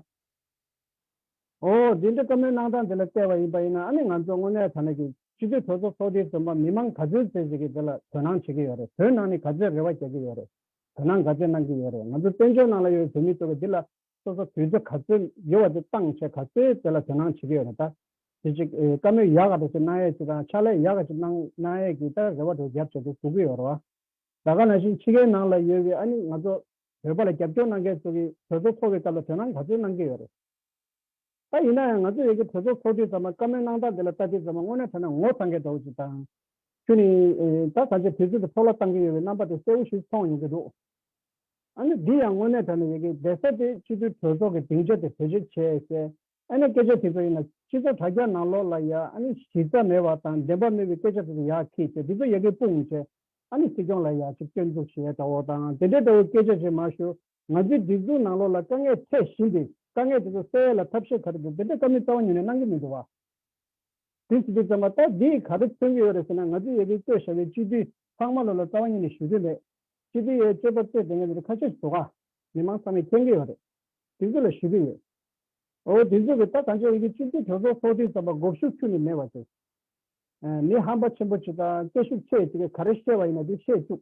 [SPEAKER 2] ཨོ་དེ་འདྲ་བཀའ་མོལ་གནང་སྟངས་དེ་ལ་བལྟས་བ་ཡིན་པ་ཡིན་ན་ཨ་ནི་ང་ཚོས་དངོས་གནས་ཐ་ན་གྱི་སྤྱི་འཐུས་གྲོས་ཚོགས་ཚོགས་དུས་ཟེར་བ་མི་མང་ག་ཚོད་ཟེར་ཟེར་གྱི་དེ་ལ་དོན་སྣང་བྱེད་ཀྱི་ཡོད་རེད་བོད་ནང་ནི་ག་ཚོད་རེ་བ་རྒྱག་གི་ཡོད་རེད་བོད་ནང་དགའ་སྤྱོད་གནང་གི་ཡོད་རེད་ང་ཚོ་བཙན་བྱོལ་ནང་ལ་ཡོད་པའི་བོད་མི་ཚོ་གི་འདི་ལ་སོ་སོ་དུས་ཚོད་ག་ཚོད་ཡོད་བ་དེ་བཏང་བྱས་ག་ཚོད་དེ་ལ་དོན་སྣང་བྱེད་ཀྱི་ཡོད་རེད་ད། དེ་ཅིག་བཀའ་མོས་ཡག་ག་པ་ཞིག་གནང་ཡས་ཅིག་དང་ཕྱག་ལས་ཡག་ག་ཅིག་གནང་གནང་ཡས་ཀྱིས་ད་རེ་བ་དེ་རྒྱབ་བྱས་ཏེ་ཟུག་གི་ཡོད་རེད་བ། ད་ག་ནང་བཞིན་ཕྱི་ཁའི་ནང་ལ་ཡོད་བའི་ཨ་ནི་ང་ཚོ་བོད་པ་ལ་རྒྱབ་སྐྱོར་གནང་མཁན་ཚོ་གི་གྲོས་ཚོགས་འཚོགས་པའི་སྐབས་ལ་དོན་སྣང་ག་ཚོད་གནང་གི་ཡོད་རེད། ད་ཡིན་ན་ཡང་ང་ཚོ་ཡོད་ཀྱི་གྲོས་ཚོགས་ཚོགས་དུས་ཙམ་ལ་བཀའ་མོལ་གནང་སྟངས་དེ་ལ་ལྟ་དུས་ཙམ་ལ་དངོས་གནས་ཐ་ན་ངོ་ཚ་འགས་འདྲ་བོ་ཞིག་དང། ཁྱོད་ནི་ད་ད་ཆའི་དུས་ཚོད་དུ་ཚོགས་ལ་བཏང་གི་ཡོད་པའི་རྣམ་པ་དེ་གསལ་བོ་ཞིག་མཐོང་ཡོང་གི་འདུག་ཨ་ནི་འདི་ཡང་དངོས་གནས་དྲན་ན་ཡོད་ཀྱི་བདེ་ས་སྟེ་སྤྱི་མཐུས་གྲོས་ཚོགས་ཀྱི་སྡིངས་ཆ་དེ་བེད་སྤྱོད་བྱས་གསལ། ཨ་ནི་སྐད་ཆ་དེ་ཚོ་ཡིན་ན་སྤྱི་ཚོགས་དྲ་རྒྱ་ནང་ལོག་ལ་ཡ་ཨ་ནི་གཞི་རྩ་མེད་བ་དང་བདེན་པ་སྨོས་པའི་སྐད་ཆ་དེ་ཚོ་ཡག་ཁིག་ཏེ་འདི་ཚོ་ཡག་གི་དཔུང་བྱས་ཨ་ནི་སྲིད་སྐྱོང་ལ་ཡག་ཅིག་སྐྱོན་འཛུགས་བྱས་འདྲ་བོ་དང་དེ་འདྲའི་འདྲ་བོའི་སྐད་ཆ་ཞིག་མ་ཞུ། ང་ཚོའི་སྒྲིག་འཛུགས་ནང་ལོགས་ལ་དཀའ་ངལ་འཕྲད་བཞིན་པའི་དཀའ་ངལ་དེ་ཚོ་སེལ་ཡས་ལ་ཐབས་ཤེས་ག་རེ་འདུག་དེ་འདྲ་དཀའ་མི་རྩ་བ་ཉིད་ནས་གནང་གི་མི་འདུག་བ། དེ་ཚིག་དེ་ཙམ་བ་ལྟར་འདི་ཡིས་ག་རེ་མཚོན་གྱི་ཡོད་རེད་ཟེར་ན་ང་ཚོའི་ཡེ་གེའི་སྐྱོ་ཤ་བའི་སྤྱི་འཐུས་ཚང་མ་ལོགས་ལ་རྩ་བ་ཉིད་ནས་ཞུ་དོན་མེད། སྤྱི་འཐུས་ཡའི་སྤྱོད་པ་རྩོད་དེ་ངས་འདིར་ཁ་ཤས་ཞིག་བཟོ་ཁ། མི་མང་ཚང་མས་མཁྱེན་གྱི་ཡོད་རེད། སྒྲིག་འཛུགས་ལ་ཞུ་གི་ཡོད། འོ་སྒྲིག་འཛུགས་ཀྱི་ད་གང་ཆོས་ཡེ་གེའི་སྤྱི་འཐུས་གྲོས་ཚོགས་ཚོགས་དུས་ཙམ་བ་འགོག་ཤུགས་ཆུ་ནས་མེད་བ་ཟེར། མི་ཧམ་པ་ཆེན་པོ་ཅིག་དང་སྐད་ཤུགས་ཆེ་བ་ཅིག་གིས་ག་རེ་བཤད་བ་ཡིན་ན་དེ་བཤད་བཅུག།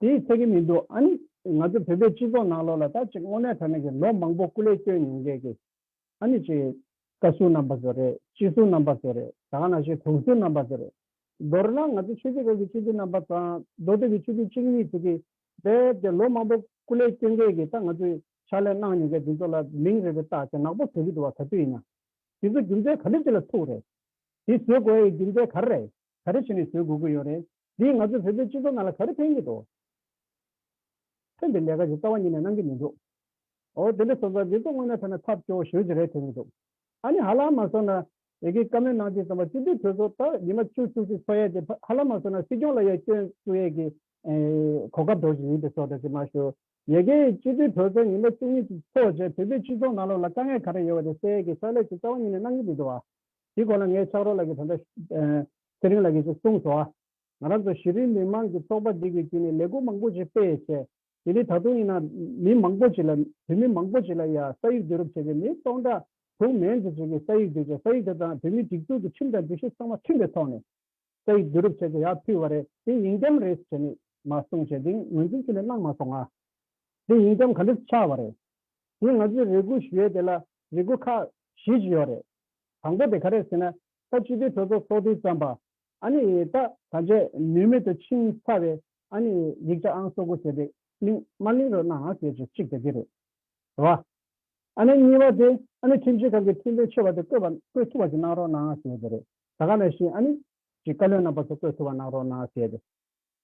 [SPEAKER 2] དེའི་ཚད་ཀྱི་མི་འདུག་ཨ་ནི། ང་ཚོ་བོད་པའི་སྤྱི་ཚོགས་ནང་ལོ་ལ་ད་ཅིག་སྔོ་ནད་དྲག་ནས་ཀྱི་ལོ་མང་པོ་སྐུ་ལས་བསྐྱོན་མྱོང་མཁན་གྱི་ཨ་ནི་ཅིག། བཀའ་ཟུར་རྣམ་པ་ཚོ་རེད་སྤྱི་ཟུར་རྣམ་པ་ཚོ་རེད་ད་ག་ན་ཞིག་དྲུང་ཟུར་རྣམ་པ་ཚོ་རེད། མདོར་ན་ང་ཚོ་ཆོས་རྗེ་སྐོར་གྱི་སྤྱི་འཐུས་རྣམ་པ་དང་མདོ་སྟོད་ཀྱི་ཆོས་འཐུས་གཅིག་གཉིས་ཚོ་གིས་རྦད་དེ་ལོ་མང་པོ་སྐུ་ལས་བསྐྱོན་མཁན་གྱི་ད་ང་ཚོས་ཕྱག་ལས་གནང་མྱོང་མཁན་དེ་ཚོ་ལ་མིང་རེ་རེ་བཏགས་ཏེ་ནག་པོ་བཟོ་གི་འདུག་བ་ག་དུས་ཡིན་ན། དེ་ཚོ་རྒྱུ་མཚན་ག་ལེ་ཅི་ལ་ཐུག་རེད། དེ་བཟོས་དགོས་ཡའི་རྒྱུ་མཚན་ག་རེ་རེད་ག་རེ་བྱས་ནས་བཟོས་དགོས་ཀྱི་ཡོད་རེད། འདིས་ང་ཚོས་བོད་པའི་སྤྱི་ཚོགས་ནང་ལ་ག་རེ་ཕན་གྱི་འདུག། ཁྱོད་འདི་ལས་ཀ་ཞིག་རྩ་བ་ཉིད་ནས་གནང་གི་མི་འདུག་ཨོ། དེ་འདྲ་སོང་ཙང་འདི་ཚོ་དངོས་ནས་ཐོས་ན་ཐབས་སྐྱོ་བོ་ཞོད་ཅིག་རེད་ཐོས་ཀྱི་འདུག་ཨ་ནི་ཧ་ལམ་མ་སོང་ན། ཡི་གེ་བཀའ་མོལ་གནང་ཅིག་ཙམ་པ་སྤྱི་འཐུས་གྲོས་ཚོགས་ད་ཉི་མ་བཅུ་བཅུ་གཅིག་འཚོགས་ཡས་དེ་ཧ་ལམ་མ་སོང་ན་སྲིད་སྐྱོང་ལ་ཡ་སྐྱོན་བཙུགས་ཡས་ཀྱི་གོ་སྐབས་འགྲོ་བཞིན་ཡིན་དེ་སོགས་འདྲ་ཅིག་སྨྲ་ཞོར། ཡི་གེ། སྤྱི་འཐུས་གྲོས་ཚོགས་ཉི་མ་བཅུ་གཉིས་གཅིག་འཚོགས་རྗེས་བོད་པའི་སྤྱི་ཚོགས་ནང་ལོགས་ལ་དཀའ་ངལ་ག་རེ་ཡོད་པ་དེ་གསལ་ཡས་ཀྱི་ཕྱག་ལས་ཅིག་རྩ་བ་ཉིད་ནས་གནང་གི་མི་འདུག་ཨ། དེའི་གོང་ལ་ངས་ཕྱག་རོགས་ལགས་ཀྱི་དོན་དག། ཚེ་རིང་ལགས་ཀྱིས་གསུངས་སོ། ང་རང་ཚོ་གཞི་རིམ་མི་དམངས་ཀྱི་ཚོགས་པ་འདི་གིས་དུས་ནས་ལས་སྒོ་མང་པོ་ཞིག་སྤེལ་བྱས། དེ་ནི་ད་དུང་ཡིན་ན་མི་མང་པོ་ཞིག་ལ་བོད་མི་མང་པོ་ཞིག་ལ་ཡ་ས་ཡིག་བསྡུ་རུབ་བྱས་ཏེ་མི་སྟོང་ཕྲག་དུ་མས་འཛིན་བྱེད་ཀྱི་ས་ཡིག་བསྡུས་བྱས་ས་ཡིག་དེ་དང་བོད་མིའི་སྒྲིག་འཛུགས་ཀྱི་ཁྲིམས་དང་སྒྲིག་གཞི་ཚང་མ་མཐུན་པའི་ཐོག་ནས་ས་ཡིག་བསྡུ་རུབ་བྱས་ཏེ་ཡ་ཕུལ་བ་རེད་དེ་ཡིན་རྒྱམ་རེད་བྱས་ནས་མ་གསུངས་བྱས་དེང་ངོས་འཛིན་ཁྱོད་ནས་གནང་མ་སོང་ང་དེ་ཡིན་རྒྱམ་ག་འདྲ་ཆགས་བ་རེད་དེ་ང་ཚོའི་རེ་སྒུག་ཞུ་ཡས་དེ་ལ་རེ་སྒུག་ཁག་བཞི་ཞིག་ཡོད་རེད་དང་པོ་དེ་ག་རེད་ཟེར་ན་ས་བཅུ་པའི་ཁྲོ་ཚོགས་སྲོག་ཏིང་ཙམ་པ། ཨ་ནི་ཡི་དྭགས་ཐམས་ཅད་ནུས་མེད་དུ་འཆིང་ཚར་བས་ཨ་ནི་ཡིག་བྱ་ཨང་སོ་དགུ་ཟེར་ཏེ་གླིང་དམར་གླིང་རོལ་ནའང་ཟེར་ཅིག་གཅིག་དེ་དེ་རེད། ར་ཨ་ནི་གཉིས་པ་དེ་ཨ་ནི་ཁྲིམས་ཆེན་ཁང་གི་ཁྲིམས་དཔོན་ཆེ་བ་དེ་བསྐོས་པ་བསྐོས་ཐུབ་པ་ཞིག་གནང་རོགས་གནང་ཟེར་དེ་རེད། ད་ག་ནས་ཤེས་ཨ་ནི། ཅིག་བཀའ་བློན་རྣམ་པ་ཚོ་བསྐོས་ཐུབ་པ་གནང་རོགས་གནང་ཟེར་དེ།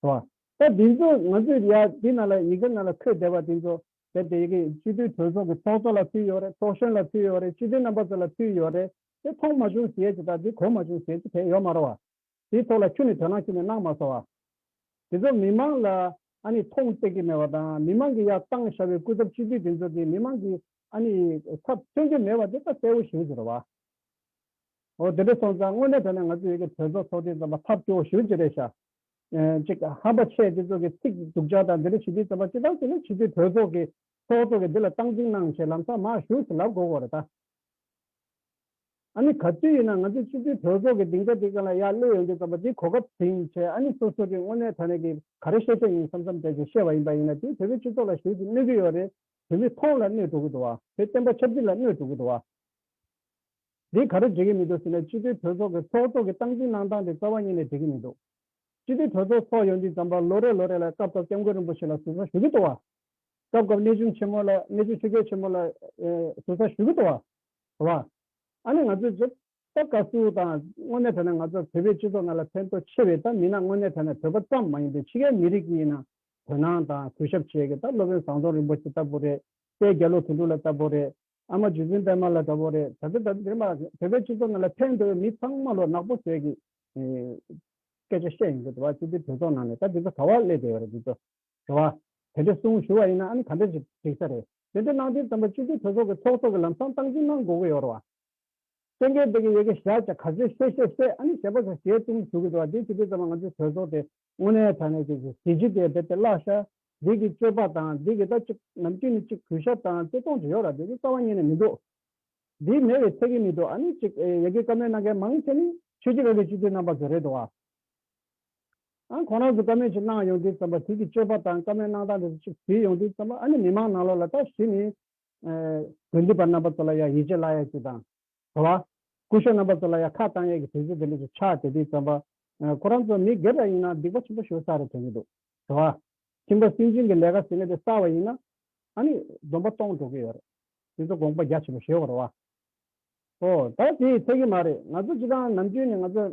[SPEAKER 2] ར་ད་འདི་ཚོ་ང་ཚོས་ཡ་འདི་ན་ལ་ཡི་གེ་ན་ལ་འཁོད་བསྡད་པ་འདི་ཚོ་ཟེར་དེ་ཡི་གེ་སྤྱི་འཐུས་གྲོས་ཚོགས་ཀྱི་ཚོགས་གཙོ་ལ་ཕུལ་ཡོད་རེད་ཚོགས་གཞོན་ལ་ཕུལ་ཡོད་རེད་སྤྱི་འཐུས་རྣམ་པ་ཚོ་ལ་ཕུལ་ཡོད་རེད་དེ་ཐོག་མ་བྱུང་ཞེས་བྱེད་དང་དེ་གོང་མ་བྱུང་ཞེས་བྱེད་དེ་ཡོད་མ་རོ། དེའི་ཐོག་ལ་ཁྱོད་ནི་དོན་སྣང་ཁྱེར་ནས་སྣང་མ་ཟ་བ། དེ་ཚོ་མི་མང་ལ་ཨ་ནི་ཐོང་བཏེག་གི་མེད་པ་དང་མི་མང་གི་ཡག་བཏང་ཤ་བའི་སྐུ་ཚབ་སྤྱི་འཐུས་དེ་ཚོ་དེ་མི་མང་གི་ཨ་ནི་ཚབ་མཚོན་གྱི་མེད་པ་དེ་ལྟ་གསལ་བོ་ཞུ་བྱེད་རོ་བ། ཨོ་དེ་འདྲ་སོང་ཙང་དངོས་གནས་དོན་ནས་ང་ཚོ་ཡོད་ཀྱི་གྲོས་ཚོགས་ཚོགས་དེ་ཙམ་པ་ཐབས་སྐྱོ་བོ་ཞུ་བྱེད་རེད་ཤག། ཅིག་ཧམ་པ་ཆེ་དེ་ཚོ་གི་ཚིག་སྡུག་ཅག་དང་དེ་འདྲ་ཞུ་དེ་ཙམ་པ་ཅི་ལྟར་བྱས་ནས་ཕྱི་སྡོད་གྲོས་ཚོགས་གི་ཚོགས་གཙོ་གི་འདི་ལ་སྟངས་འཛིན་གནང་ཞེས་ལམ་སང་མར་བཞུགས་སུ་ལབ་དགོས་གོ་རེ་ད། ཨཱ་ནི་ག་དུས་ཡིན་ན་ང་ཚོའི་སྤྱི་མཐུས་གྲོས་ཚོགས་ཀྱི་སྡིངས་ཆ་དེ་ག་ལ་ཡག་སླེ་ཡོང་རྒྱུ་ཙམ་པ་དེ་གོ་སྐབས་དེ་ཡིན་ཆེ་ཨཱ་ནི་སོ་སོ་གི་དངོས་གནས་ཐ་ན་གི་ག་རེ་ཤེས་ཤེས་ཡིན་བསམ་བསམ་བྱ་ཞིག་ཤེས་བ་ཡིན་པ་ཡིན་ན་དེས་བོད་པའི་སྤྱི་ཚོགས་ལ་ཞིག་ཅིག་གནོད་ཀྱི་ཡོད་རེད་བོད་མི་ཐོང་ལ་གནོད་འགྲོ་གི་འདུག་བ། བོད་བསྟན་པ་ཆབ་སྲིད་ལ་གནོད་འགྲོ་གི་འདུག་བ། འདིས་ག་རེ་འགྲིག་གི་མི་འདུག་ཟེར་ན་སྤྱི་མཐུས་གྲོས་ཚོགས་ཀྱི་ཚོགས་གཙོ་གི་སྟངས་འཛིན་གནང་སྟངས་དེ་རྩ་བ་ཉིད་ནས་འགྲིག་གི་མི་འདུག་སྤྱི་མཐུས་གྲོས་ཚོགས་ཚོགས་ཡོང་དུས་ཙམ་པ་ལོ་རེ་ལོ་རེ་ལ་སྐབས་སྐབས་སྐྱབས་མགོན་རིན་པོ་ཆེ་ལ་ཟུར་ཟ་ཞུ་གི་འདུག་བ། སྐབས་སྐབས་གནས་ཆུང་ཆེན་མོ་ལ་གནས་ཆུང་ཆོས་རྒྱལ་ཆེན་མོ་ལ་ཟུར་ཟ་ཞུ་གི་འདུག་བ། བ། ཨ་ནི་ང་ཚོས་ཇི། ལྟར་དགའ་བསུ་དང་དངོས་གནས་དྲན་ན་ང་ཚོར་བོད་པའི་སྤྱི་ཚོགས་ནང་ལ་ཕན་ཐོགས་ཆེ་བའི་ད་མིན་ན་དངོས་གནས་དྲན་ན་བོད་པ་ཙམ་མ་ཡིན་པའི་ཕྱི་རྒྱལ་མི་རིགས་ཀྱི་ཡིན་ན་དོན་སྣང་དང་གུས་ཞབས་བྱེད་ཀྱི་ད་སློབ་དཔོན་ཟངས་རྡོ་རིན་པོ་ཆེ་ལྟ་བུ་རེད་པས་རྒྱ་ལོ་དོན་གྲུབ་ལ་ལྟ་བུ་རེད། ཨ་མ་ཇུ་ཆེན་པད་མ་ལ་ལྟ་བུ་རེད་ད་དེ་ད་དེ་མ་བོད་པའི་སྤྱི་ཚོགས་ནང་ལ་ཕན་ཐོགས་བའི་མི་ཚང་མ་ལོ་ནག་པོ་བཟོས་ཀྱི་སྐད་ཆ་བཤད་ཡོང་གི་འདུག་བ་སྤྱི་འཐུས་གྲོས་ཚོགས་ནང་ནས་ད་འདི་ཚོ་ག་བ་སླེབས་བསྡད་ཡོད་རེད་འདི་ཚོ། དྲི་བ། དེ་འདྲའི་གསུང་ཞུ་བ་ཡིན་ན་ཨ་ནི་ག་འདྲ་ཞིག་འགྲིག་ས་རེད། དེ་འདྲ་གནང་དུས་རྩམ་པ་སྤྱི་འཐུས་གྲོས་ཚོགས་ཀྱི་ཚོགས་གཙོ་གི་ལམ་སང་སྟངས་ཅི་གནང་དགོས་ཀྱི་ཡོད་རེད་བ། སེང་གེའི་སྡེ་གི་ཡེ་གེ་བཞག་ཅེས་ག་ཚོད་བཤད་བཤད་བཤད་ཨ་ནི་ཞེ་པོ་ཟ་ཞེ་བཏུང་ཞུ་གི་འདུག་བ་འདི་ཇི་སྟེ་རྩམ་པ་ང་ཚོའི་གྲོས་ཚོགས་དེ་དངོས་གནས་དྲ་གནས་ཀྱི་གཟི་བརྗིད་དེ་རྦད་དེ་བརླག་ཤ་འདི་གི་སྤྱོད་པ་དང་འདི་གི་ད་ཅིག་ནམ་དཀྱུས་ནི་ཅིག་གུས་ཞབས་དང་བརྩེ་དུང་དེ་ཡོད་ར་འདི་ནི་རྩ་བ་རྙེད་ནས་མི་འདུག་འདི་མེད་བའི་ཚད་གི་མི་འདུག་ཨ་ནི་ཅིག་ཡེ་གེ་བཀའ་མོལ་གནང་མཁན་མང་ཆེ་ནི་ཆོས་རྗེ་རབ་རིའི་སྤྱི་འཐུས་རྣམ་པ་ཚོ་རེད་འདུག་བ། ཨང་ཁོང་རང་གིས་བཀའ་མོལ་ཅིག་གནང་ཡོང་དུས་བརྩམས་པ་དུས་ཀྱི་སྤྱོད་པ་དང་བཀའ་མོལ་གནང་སྟངས་དེ་ཚོ་ཅིག་བྲིས་ཡོང་དུས་བརྩམས་པ་ཨ་ནི་མི་མང་ནང་ལོགས་ལ་ལྟ་གཞི་ནི། དགོན་སྡེ་པ་རྣམ་པ་ཚོ་ལ་ཡང་ཡིད་ཆེས་བརླག་ཡས་ཅིག་དང། དྲོ་བ། སྐུ་ཞབས་རྣམ་པ་ཚོ་ལ་ཡང་ཁ་བཏང་ཡས་ཀྱི་དུས་ཚོད་དེ་འདྲ་ཅིག་ཆགས་དེ་དུས་བརྩམས་པ། ཁོ་རང་ཚོ་མི་སྒེར་ར་ཡིན་ན་སྡིག་པ་ཆེན་པོ་ཤོར་ས་རེད་དྲན་གྱི་འདུག་དྲོ་བ། ཁྱིམ་པ་སྲིད་འཛིན་གྱི་ལས་ཀ་ཟེར་ནས་དེ་བསགས་བ་ཡིན་ན། ཨ་ནི་སྡོམ་པ་གཏོང་འགྲོ་གི་ཡོད་རེད། དེ་ཚོ་དགོངས་པ་རྒྱ་ཆེན་པོ་བཞེས་བར་བ། ཨོ། ད་དེ་ཚད་ཀྱི་མ་རེད། ང་ཚོ་སྤྱི་ཁང་ནམ་རྒྱུན་ནས་ང་ཚོ།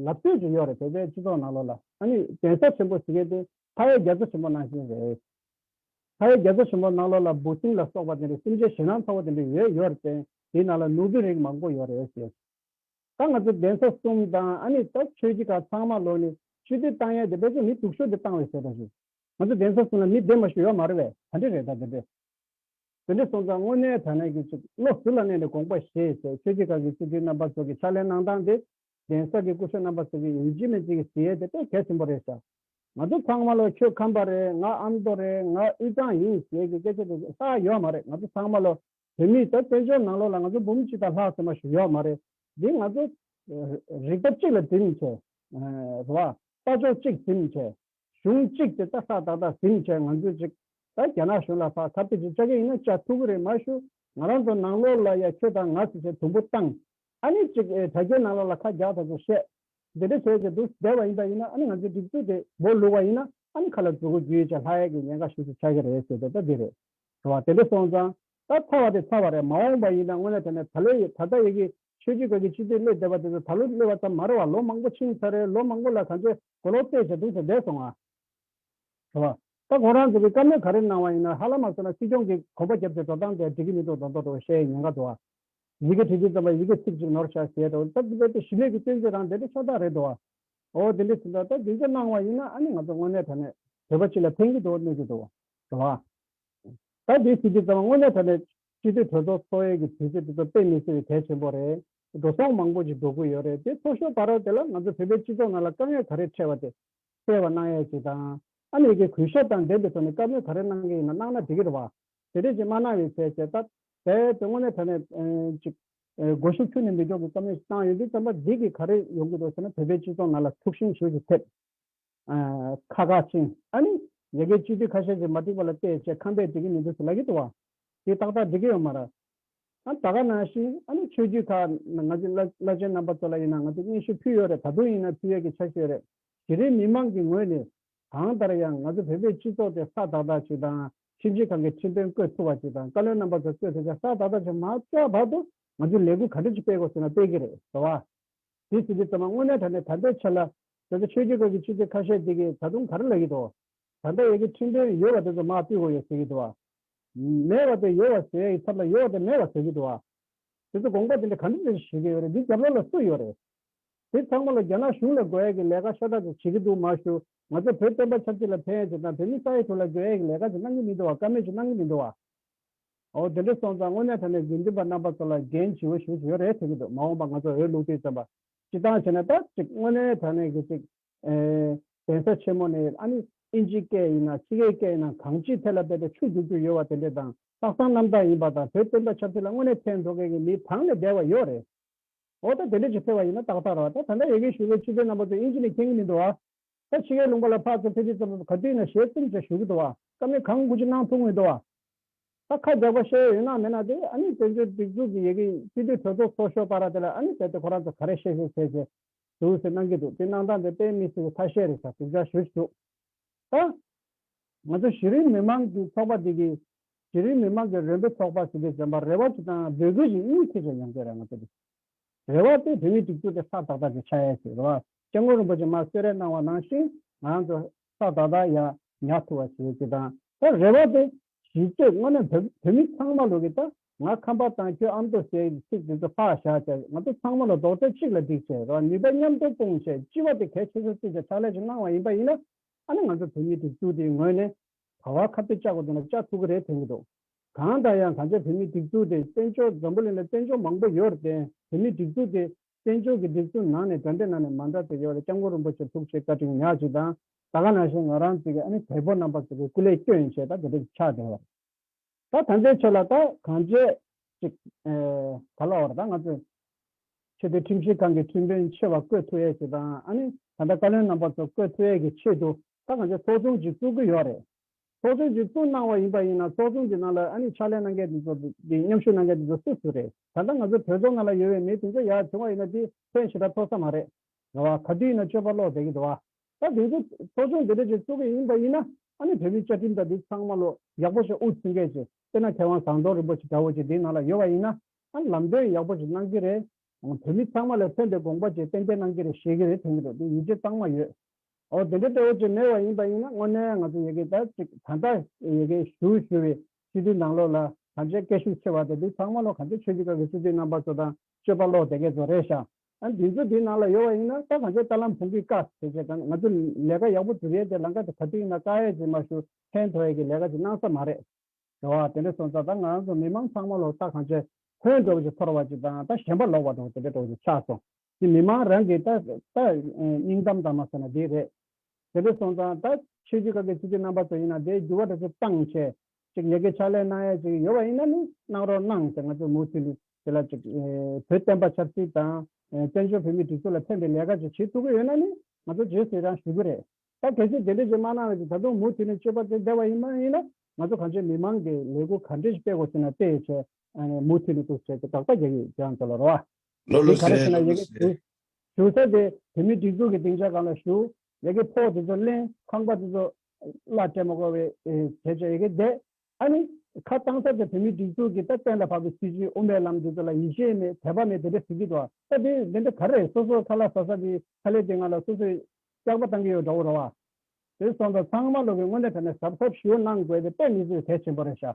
[SPEAKER 2] ལབ་སྟོད་ཀྱི་ཡོད་རེད་བོད་པའི་སྤྱི་ཚོགས་ནང་ལོགས་ལ། ཨ་ནི་གདན་ས་ཆེན་པོ་ཟེར་མཁན་དེ་ཕ་ཡའི་རྒྱ་མཚོ་ཆེན་པོ་ནང་བཞིན་རེད། ཕ་ཡའི་རྒྱ་མཚོ་ཆེན་པོ་ནང་ལོགས་ལ་འབུ་སྲིན་ལ་སོགས་པ་དེ་འདྲའི་སེམས་ཅན་ཞེད་སྣང་ཚ་བོ་དེ་འདྲ་ཡོད་ཡོད་རེད་བརྟེན་དེའི་ནང་ལ་ནོར་བུའི་རིགས་མང་པོ་ཡོད་རེད་ཟེར། ད་ང་ཚོ་གདན་ས་གསུམ་དང་ཨ་ནི་ད་ཆོས་སྤྱི་ཁང་ཚང་མ་ལོགས་ནས་ཆོས་སྡེ་བཏང་ཡས་དེ་དཔེ་ཚོགས་མི་སྡུག་ཤོས་དེ་བཏང་བས་ཟེར་པ་བཞིན། ང་ཚོ་གདན་ས་གསུམ་ལ་མི་བདེ་མ་ཞུ་ཡོད་མ་རེད་བས་ད་འདྲ་རེད་ད་དེ་འདྲ། དེ་འདྲའི་སོང་ཙང་དངོས་གནས་དྲག་གནས་ཀྱི་ཆུ་བློ་ཟུར་ལ་གནས་ནས་དགོངས་པ་བཞེས་ཞེས་ཆོས་རྗེ་གང་གི་སྤྱི་འཐུས་རྣམ་པ་ཚོ་གི་ཕྱག་ལེན་གནང་སྟངས་དེ་གདན་ས་ཀྱི་སྐུ་སྲོད་རྣམ་པ་ཚོ་གི་ཡིན་གཅིག་མིན་གཅིག་གི་ཟིན་ཡས་དེ་དཔེ་གལ་ཆེན་པོ་རེད་ཤག་ང་ཚོ་ཚང་མ་ལོ་ཁྱོད་ཁམས་པ་རེད་ང་ཨ་མདོ་རེད་ང་དབུས་གཙང་ཡིན་ཞེས་ཀྱི་སྐད་ཆ་དེ་ཚོ་ཧ་ཡོད་མ་རེད་ང་ཚོ་ཚང་མ་ལོ་བོད་མི་ད་བཙན་བྱོལ་ནང་ལོ་ལ་ང་ཚོ་འབུམ་གཅིག་དང་ལྷག་ཟེར་མ་ཞིག་ཡོད་མ་རེད་འདི་ང་ཚོ་རིག་པ་གཅིག་ལ་འཛིན་བྱས་རེད་བ་ལྟ་ཕྱོགས་གཅིག་འཛིན་བྱས། གཞུང་གཅིག་དེ་ལྟ་ས་ཏག་ཏག་ཟིན་བྱས་ང་ཚོས་ཅིག་ད་རྒྱ་ནག་གཞུང་ལ་ཕ་ཁ་ཕི་ཅིག་ཅག་གི་ཡིན་ན་ཅག་ཐུག་གི་རེད་མ་ཞུ་ང་རང་ཚོ་ནང་ལོག་ལ་ཡ་ཁྱོད་དང་ང་སུ་བྱེད་དུམ་བུ་བཏང་ཨ་ནི་ཅིག་ཨེ་དྲ་རྒྱའི་ནང་ལོག་ལ་ཁ་རྒྱག་ད་ཚོ་བཤད་འདི་འདྲ་བྱས་བྱས་འདུག་བསྡད་བ་ཡིན་ད་ཡིན་ན་ཨ་ནི་ང་ཚོའི་སྒྲིག་འཛུགས་དེ་འབོ་ལུག་བ་ཡིན་ན་ཨ་ནི་ཁ་ལ་འཛུག་གོ་རྒྱུ་ཡིན་ཅག་ལྷ་ཡག་གི་ཉེན་ཁ་ཞུ་ཞུ་ཆག་གི་རེད་ཟེར་དེ་ད་འདི་རེད་བྱ་བ་དེ་འདྲ་སོང་ཙང་ད་ཚར་བ་དེ་ཚར་བ་རེད་མ་འོངས་པ་ཡིན་ན་དངོས་གནས་དེ་ནས་ད་ལོའི་ཡི་ད་ལྟ་ཡི་གི་ཆོས་རྒྱུད་དག་གི་སྤྱི་འཐུས་སླེབས་བསྡད་པ་དེ་ཚོ་ད་ལོ་སླེབས་བ་ཙམ་མ་རེད་བ་ལོ་མང་པོ་ཕྱིན་ཚར་རེད་ལོ་མང་པོ་ལ་གང་ཆོས་གོ་ལོག་བལྟས་ཞེས་གདུང་སེམས་འདས་སོང་ཨ། དྲི་བ། ད་ཁོང་རང་ཚོ་གིས་བཀའ་མོལ་ག་རེ་གནང་བ་ཡིན་ན་ཧ་ལམ་མ་བསོད་ནམས་སྲིད་སྐྱོང་གིས་གོམ་པ་བརྒྱབ་ཚེ་འགྲོ་སྟངས་དེ་འགྲིག་གི་མི་འདུག་མདོག་མདོག་དུ་ཤའི་ཉེན་ཁ་འདུག་ཨ། ཡི་གེ་བྲིས་རྗེས་རྩོམ་པ་ཡི་གེ་ཚིག་གཅིག་ནོར་ཤ་ཞེས་དང་སྟབས་བདེ་དེ་ཞི་གནས་ཀྱི་སྐྱོན་བརྗོད་རང་དེ་འདྲའི་ཤོག་ཐག་རེད་འདུག་ཨ། འོ་དེ་འདྲའི་ཟིན་ཐོ་ད་དེ་འདྲ་གནང་བ་ཡིན་ན་ཨ་ནི་ང་ཚོ་དངོས་གནས་དྲ་གནས་བོད་པ་སྤྱི་ལ་ཕན་གྱི་འདུག་གནོད་ཀྱི་འདུག་དྲི་བ། ད་དེ་ཟིན་རྗེས་རྩོམ་པ་དངོས་གནས་དྲ་གནས་སྤྱི་འཐུས་གྲོས་ཚོགས་འཚོགས་ཡས་ཀྱི་དུས་ཚོད་དེ་ཚོ་དཔེ་མི་སྲིད་པའི་གལ་ཆེན་པོ་རེད། འགྲོ་སོང་མང་པོ་ཞིག་འགྲོ་དགོས་ཡོད་རེད་དེ་ཚོ་ཤོག་བར་རོགས་དེ་ལ་ང་ཚོ་བོད་པའི་སྤྱི་ཚོགས་ནང་ལ་དཀའ་ངལ་ག་རེ་འཕྲད་བ་དེ་སེལ་བ་གནང་ཡག་ཅིག་དང། ཨ་མི་རི་ཀའི་གུས་ཞབས་དང་འབྲེལ་དེ་ཚོ་ནས་བཀའ་མོལ་ག་རེ་གནང་གི་ཡིན་ན་གནང་ན་འགྲིག་གི་རེད་བ། དེ་འདྲས་ཅིག་མ་གནང་ཡོད་ཚེ་བྱས་སྟབས་བས་དོན་ངོ་མའི་དོན་ནས་ཅིག། སྒོ་ཤུགས་ཆུ་ནས་མི་འཇོག་གི་བཀའ་མོལ་ཞིག་བཏང་ཡོད་འདུག་བསམ་པ་འགྲིག་གི་ག་རེ་ཡོང་གི་འདུག་ཟེར་ན་བོད་པའི་སྤྱི་ཚོགས་ནང་ལ་ཐུགས་ཞིམ་ཞིག་ཏུ་ཐེབས། ཁ་ཁ་ཅན། ཨ་ནི། ཡ་གི་སྤྱི་ཐུས་ཁ་ཤས་ཀྱིས་མ་འགྲིག་པ་ལ་བལྟས་བྱས་ཁམས་པས་འགྲིག་གི་མི་འདུག་ཟེར་ལབ་ཀྱི་འདུག་བ། དེ་ཏག་ཏག་འགྲིག་གི་ཡོད་མ་རེད། ཨ་ད་ག་ན་ཤི། ཨ་ནི་ཆོས་བརྒྱུད་ཁག་ན་ང་ཚོའི་བླ་ཆེན་རྣམ་པ་ཚོ་ལ་ཡིན་ན་ང་ཚོས་སྙན་ཞུ་ཕུལ་ཡོད་རེད་ད་དུང་ཡིན་ན་ཕུལ་ཡོད་ཀྱི་ཆ་ཤོས་རེད། གཞི་རིམ་མི་མང་གི་ངོས་ནས་གང་ལྟར་ཡང་ང་ཚོ་བོད་པའི་སྤྱི་ཚོགས་དེ་ས་དག་དག་ཅིག་དང་ཁྲིམས་ཞིབ་ཁང་གི་ཁྲིམས་དཔོན་བསྐོས་ཐུབ་བ་ཅིག་དང་བཀའ་བློན་རྣམ་པ་ཚོ་བསྐོས་ཐུབ་ཆ་ས་དག་དག་ཅིག་མ་རྩ་བར་དུ་ང་ཚོས་ལས་འགུལ་ག་འདྲ་ཅིག་སྤེལ་དགོས་ཟེར་ན་སྤེལ་གྱི་རེད་བཟོ་བ། དེ་ཟེར་དུས་ཚང་མ་དངོས་གནས་ད་ནས་ད་ལྟའི་ཆ་ལ། དེ་ཚོ་ཆོས་རྒྱུད་སྐོར་གྱི་ཆུ་ཚོད་ཁ་ཤས་དེ་གས་ད་དུང་ག་རེ་ལབ་ཡི་འདུག་ད་ལྟ་ཡོད་ཀྱི་ཁྲིམས་དཔོན་ཡོལ་བ་དེ་ཚོ་མ་བསྟུད་གོ་ཡོད་ཟེར་གྱི་འདུག་བ། མེད་བ་དེ་ཡོལ་བ་ཟེར་ཡ་ཡི་ཚབ་ལ་ཡོལ་བ་དེ་མེད་བ་ཟེར་གྱི་འདུག་བ། དེ་ཚོ་དགོངས་པ་དེ་འདྲ་ག་འདྲ་ཞིག་བྱེད་ཀྱི་ཡོད་རེད་འདི་རྒྱབ་ལོག་ལ་སུ་ཡོད་རེད། དེ་ཚང་མ་ལ་རྒྱ་ནག་གཞུང་ལ་དགོས་ཡ་གྱི་ལས་ཀ་ཤ་སྟག་ཅིག་བྱེད་ཀྱི་འདུག་མ་ཞུ་ང་ཚོ་བོད་སྟོན་པ་ཆབ་སྲིད་ལ་ཕན་ཡ་བྱེད་དང་བོད་མི་ས་ཡ་དྲུག་ལ་དགོས་ཡ་གྱི་ལས་ཀ་ཅིག་གནང་གྱི་མི་འདུག་བ་ཀ་མེད་ཅིག་གནང་གྱི་མི་འདུག་བ། འོ་དེ་འདྲ་སོང་ཙང་དངོས་གནས་ད་ནས་དགེ་འདུན་པ་རྣམ་པ་ཚོ་ལ་འགན་ཇི་བོ་ཞུ་བཞིན་ཡོད་རེད་ཐོས་ཀྱི་འདུག་མ་འོངས་པ་ང་ཚོ་འོས་བླུགས་དུས་བཙན་པ་སྤྱི་བཏང་བྱས་ན་ད་ཅིག་དངོས་གནས་ད་ནས་ཀྱི་ཅིག་གདན་ས་ཆེན་མོ་ནས་ཨ་ནི་ཨིན་ཇིའི་སྐད་ཡིན་ན་ཕྱི་རྒྱལ་སྐད་ཡིན་ན་གང་ཅིའི་ཐད་ལ་དེ་འདྲ་ཆུ་རྒྱུག་རྒྱུ་ཡོད་བ་དེ་འདྲས་དང། ལྷག་བསམ་རྣམ་དག་ཡིན་པ་དང་བོད་བསྟན་པ་ཆབ་སྲིད་ལ་དངོས་གནས་ཕན་འགྲོ་མཁན་གྱི་མི་གང་ནས་བསྡད་བ་ཡོད་རེད། འོ་ད་དེ་འདྲས་ཅིག་ཕེབས་བ་ཡིན་ན་ཏག་ཏག་རོགས་ད་ད་འདྲ་ཡོད་མཁན་ཞུ་བའི་སྤྱི་དཔོན་རྣམ་པ་ཚོ་ཨིན་ཇི་ནས་མཁྱེན་གྱི་མི་འདུག་ཨ། ད་ཕྱི་གའི་ལུང་པ་ལ་ཕག་ཚོ་ཕེ་ཕི་ཙམ་ཙམ་ག་དུས་ན་ཞལ་བཙུམ་བྱ་ཞུགས་གི་འདུག་བ། ཀ་མེད་གང་དགོས་ཅི་གནང་ཐུབ་ངེས་འདུག་བ། ད་ཁ་རྒྱག་པ་བཤད་ཡོད་ན་མེད་ན་དེ་ཨ་ནི་བཙན་བྱོལ་སྒྲིག་འཛུགས་ཀྱི་ཡེ་གེ་ཡིན་སྤྱི་འཐུས་གྲོས་ཚོགས་ཚོགས་ཤོག་པ་ར་དེ་ལ་ཨ་ནི་བལྟས་ཏེ་ཁོ་རང་ཚོ་ག་རེ་བཤད་བཤད་བྱས་བྱས་ཟུར་ཟིར་གནང་གི་འདུག་དེ་གནང་སྟངས་དེ་དཔེ་མི་སྲིད་པའི་ཐ་ཤལ་རེད་ས་དྲུག་ཆ་ཞུ་བཞུགས་ད། ང་ཚོ་གཞི་རིམ་མི་མང་གི་ཚོགས་པ་འདི་གི། གཞི་རིམ་མི་མང་གི་རེ་འབོད་ཚོགས་པ་ཟེར་དུས་བྱམས་པ་རེ་བ་ཅིག་དང་འབོད་སྐུལ་ཅིག་གཉིས་ཐེ་བྱས་ཡོང་གི་རེད་ང་ཚོ་འདི། རེ་བ་སྟེ་བོད་མིའི་སྒྲིག་འཛུགས་དེ་ཧྲག་ཏག་ཏག་གི་ཆགས་ཡས་ཤིག་རེད་བ། སྐྱབས་མགོན་རིན་པོ་ཆེ་མར་གསོལ་རས་གནང་བ་ནང་བཞིན་ང་ཚོ་ས་བདག་དག་ཡང་ཉག་ཐུ་བ་ཞེས་བགྱི་དང་ད་རེ་བ་དེ་གཞིས་བྱེས་དངོས་ནས་བོད་བོད་མི་ཚང་མ་ལུག་གི་ད་ང་ཁམས་པ་དང་ཁྱོད་ཨ་མདོ་ཟེར་གྱི་ཚིག་དེ་ཚོ་ཧ་བཞག་བྱས་ང་ཚོ་ཚང་མ་ལ་རྡོག་ཁྲེས་གཅིག་ལ་སྒྲིག་བྱས་རོགས་ནུས་པ་མཉམ་སྟོར་སྤུངས་བྱས་སྤྱི་བ་དེ་གལ་ཆེ་ཆུང་བརྩི་བྱ་ཕྱག་ལས་ཀྱི་གནང་བ་ཡིན་པ་ཡིན་ན་ཨ་ནི་ང་ཚོ་བོད་མི་སྒྲིག་འཛུགས་དེའི་ངོས་ནས་བར་བར་ཁ་ཕེབས་བཅག་དགོས་དོན་ལ་བཅག་ཐུབ་ཀྱི་རེད་དྲན་གྱི་འདུག་གང་ལྟར་ཡང་གངས་ཅན་བོད་མི་སྒྲིག་འཛུགས་དེ་བཙན་བྱོལ་འཛམ་བུ་གླིང་ལ་བཙན་བྱོལ་མང་པོ་ཡོད་རེད་དེ་བོད་མི་སྒྲིག་འཛུགས་དེ་བཙན་བྱོལ་གྱི་སྒྲིག་འཛུགས་ནང་ནས་དགྲ་འདྲེ་ནང་ནས་མ་འདྲ་དེ་ཡོད་ལ་སྐྱབས་མགོན་རིན་པོ་ཆེ་ཐུགས་རྗེ་བཀའ་དྲིན་ཉག་ཅིག་དང་ད་ག་ནང་བཞིན་ང་རང་ཅིག་གིས་ཨ་ནི་བལ་པོ་རྣམ་པ་ཚོ་གི་སྐུ་ལས་སྐྱོན་ཡིན་ཞེས་ད་ག་དྲིག་ཆགས་བསྡད་བ། ད་ད་འདས་ཆོས་ལ་ད་གང་བྱས་ཅིག་ད་ལོ་བར་ད་ང་ཚོས་ཆོས་དོན་ཁྲིམས་ཞིབ་ཁང་གི་ཁྲིམས་དཔོན་ཆེ་བ་བསྐོས་ཐུ་ཡས་ཞིག་དང་ཨ་ནི་ད་ད་བཀའ་བློན་རྣམ་པ་ཚོ་བསྐོས་ཐུ་ཡས་ཀྱི་ཆེད་དུ་ད་གང་བྱས་ཚོགས་ཆུང་ཅིག་བཙུགས་ཀྱི་ཡོད་རེད། ཚོགས་ཆུང་གཅིག་བཙུགས་གནང་བ་ཡིན་པ་ཡིན་ན་ཚོགས་ཆུང་དེ་ནང་ལ་ཨ་ནི་ཕྱག་ལས་གནང་མཁན་དེ་ཚོ་དེ་མཉམ་ཞུགས་གནང་མཁན་དེ་ཚོ་སུ་སུ་རེད་ད་ལྟ་ང་ཚོའི་བོད་ཚོགས་ནང་ལ་ཡོད་བའི་མི་དེ་ཚོ་ཡར་བྱུང་བ་ཡིན་ན་དེ་ཕན་ཞེ་དྲག་ཐོག་ས་མ་རེད་རེད་བ་ག་དུས་ཡིན་ན་སྤྱོད་པ་ལོག་བསྡད་ཀྱི་འདུག་བ་ད་དེ་ཚོ་ཚོགས་ཆུང་དེ་འདྲ་ཅིག་བཙུགས་ཀྱི་ཡིན་པ་ཡིན་ན་ཨ་ནི་བོད་མི་བཅའ་ཁྲིམས་དང་དེ་ཚང་མ་ལོ་ཡག་པོ་ཞིག་དབུ་འཛིན་མཁན་ཞིག་དཔེར་ན་མཁས་དབང་ཟངས་མདོག་རིན་པོ་ཆེ་འདྲ་བོ་ཅིག་དེ་ནང་ལ་ཡོད་བ་ཡིན་ན་ཨ་ནི་ལམ་སྟོན་ཡག་པོ་ཞིག་གནང་གི་རེད་བོད་མི་ཚང་མ་ལ་ཕན་པའི་དགོངས་པ་ཅིག་གཏན་འཁེལ་གནང་གི་རེད་ཞེས་ཀྱི་རེད་དྲན་གྱི་འདུག་དེ་ཡིད་ཆེས་གཙང་མ་ཡོད་ཨོ་དེ་འདྲའི་གཏེ་བོ་ཅིག་མེད་བ་ཡིན་པ་ཡིན་ན་དངོས་གནས་ང་ཚོ་ཡི་གེ་དག་ཅིག་ད་ལྟ་ཡི་གེ་ཞུ་ཞུ་བའི་སྤྱི་འཐུས་ནང་ལོག་ལ་གང་ཆེ་སྐད་ཤུགས་ཆེ་བ་དེ་དུས་ཚང་མ་ལོག་གང་ཆེ་ཆོས་རྒྱུད་ཁག་གི་སྤྱི་འཐུས་རྣམ་པ་ཚོ་དང་སྤྱོད་པ་ལོག་དེ་སྐད་ཚོ་རེད་ཤག་ཨ་འདི་ཚོ་དེའི་ནང་ལ་ཡོད་བ་ཡིན་ན་ད་གང་ཆེ་རྟ་ལམ་བུང་གིས་བཀག་བྱས་བྱས་གང་ང་ཚོ་ལས་ཀ་ཡག་པོ་སྒྲུབ་ཡས་དེ་ལང་ཀ་དེ་ག་དུས་ཡིན་ན་བཀག་ཡས་ཅིག་མ་ཞུ་ཕན་ཐོག་ཡས་ཀྱི་ལས་ཀ་ཅིག་གནང་ས་མ་རེད། རེད་བ་དེ་འདྲ་སོང་ཙང་ད་ང་རང་ཚོ་མི་མང་ཚང་མ་ལོག་རྟ་གང་ཆེ་ཧོན་འགྲོ་བ་ཅིག་འཐོར་བ་ཅིག་དང་ད་གཞན་པ་ལོག་བ་དང་དེ་འདྲ་འགྲོ་བ་ཅིག་ཆགས་སོང། ཀྱི་མི་མང་རང་གིས་ད་ལྟ་སྙིང་གཏམ་ཙམ་མ་ཟེར་ན་འདི་རེད། དེ་ལས་སོང་ཙང་ད་ཆོས་རྒྱུད་ཁག་གི་སྤྱི་འཐུས་རྣམ་པ་ཚོ་ཡིན་ན་དེའི་འགྱུར་བ་འདྲ་ཚུལ་བཏང་ཆེད་ཅིག་ཡལ་གའི་ཕྱག་ལས་གནང་ཡ་ཅིག་ཡོད་པ་ཡིན་ན་ནི་གནང་རོགས་གནང་ཟེར་ང་ཚོས་མུ་མཐུད་ནས་དེ་ལ་ཅིག་བོད་བསྟན་པ་ཆབ་སྲིད་དང་བཙན་བྱོལ་བོད་མིའི་སྒྲིག་འཛུགས་ལ་ཕན་པའི་ལས་ཀ་ཅིག་བྱེད་ཐུབ་ཀྱི་ཡོད་ན་ནི་ང་ཚོ་རྗེས་སུ་ཡང་ཞུ་གི་རེད། ད་གལ་སྲིད་དེ་འདྲ་ཅིག་མ་གནང་བ་ཅིག་ད་དུང་མུ་མཐུད་ནས་སྤྱོད་པ་དེ་བདེ་བ་ཡིན་མ་ཡིན་ན་ང་ཚོ་གངས་ཅན་མི་མང་གིས་ལས་འགུལ་ག་འདྲ་ཞིག་སྤེལ་དགོས་ཟེར་ན་སྤེལ་ཡ་ཆེད་མུ་མཐུད་ནས་ཏུ་ཟེར་ཏེ་དགག་པ་རྒྱག་ཡོད་ཀྱང་ཚོ་ལ་རོགས། ལོ་ལོ་སེ་ལོ་
[SPEAKER 3] ལོ་སེ། ཞུ་ས་དེ་
[SPEAKER 2] བོད་མིའི་སྒྲིག་འཛུགས་ཀྱི་སྡིངས་ཆ་གང་ལ་ཞུ། ཡ་གི་ཕོག་དེ་ཚོ་གླེང་ཁང་པ་དེ་ཚོ་བླ་སྤྲད་མ་དགོས་བའི་བྱས་བྱས་ཡ་གི་བསྡད། ཨ་ནི་ཁ་བཏང་ས་དེ་བོད་མིའི་སྒྲིག་འཛུགས་ཀྱི་ད་གཏན་ལ་ཕབ་པའི་སྲིད་བྱུས་དབུ་མའི་ལམ་དེ་ཚོ་ལ་ཡིད་ཆེས་མེད་དད་པ་མེད་དེ་འདྲ་ཟེར་གྱི་འདུག་ཨ་ད་དེ་དེ་འདྲ་ག་རེ་རེད་སོ་སོ་ཁ་ལ་ཟ་ས་དེ་ཁ་ལས་དེ་ང་ལ་སོ་སོས་སྐྱག་པ་བཏང་གི་ཡོད་འདྲ་བོ་རོ་བ། དེ་སོང་ཙང་ཚང་མ་ལོ་གི་སྔོན་ལ་དེ་འདྲ་གཟབ་གཟབ་ཞུ་གནང་དགོས་པའི་དཔེ་མི་བཟོས་གལ་ཆེན་པོ་རེད་ཤག་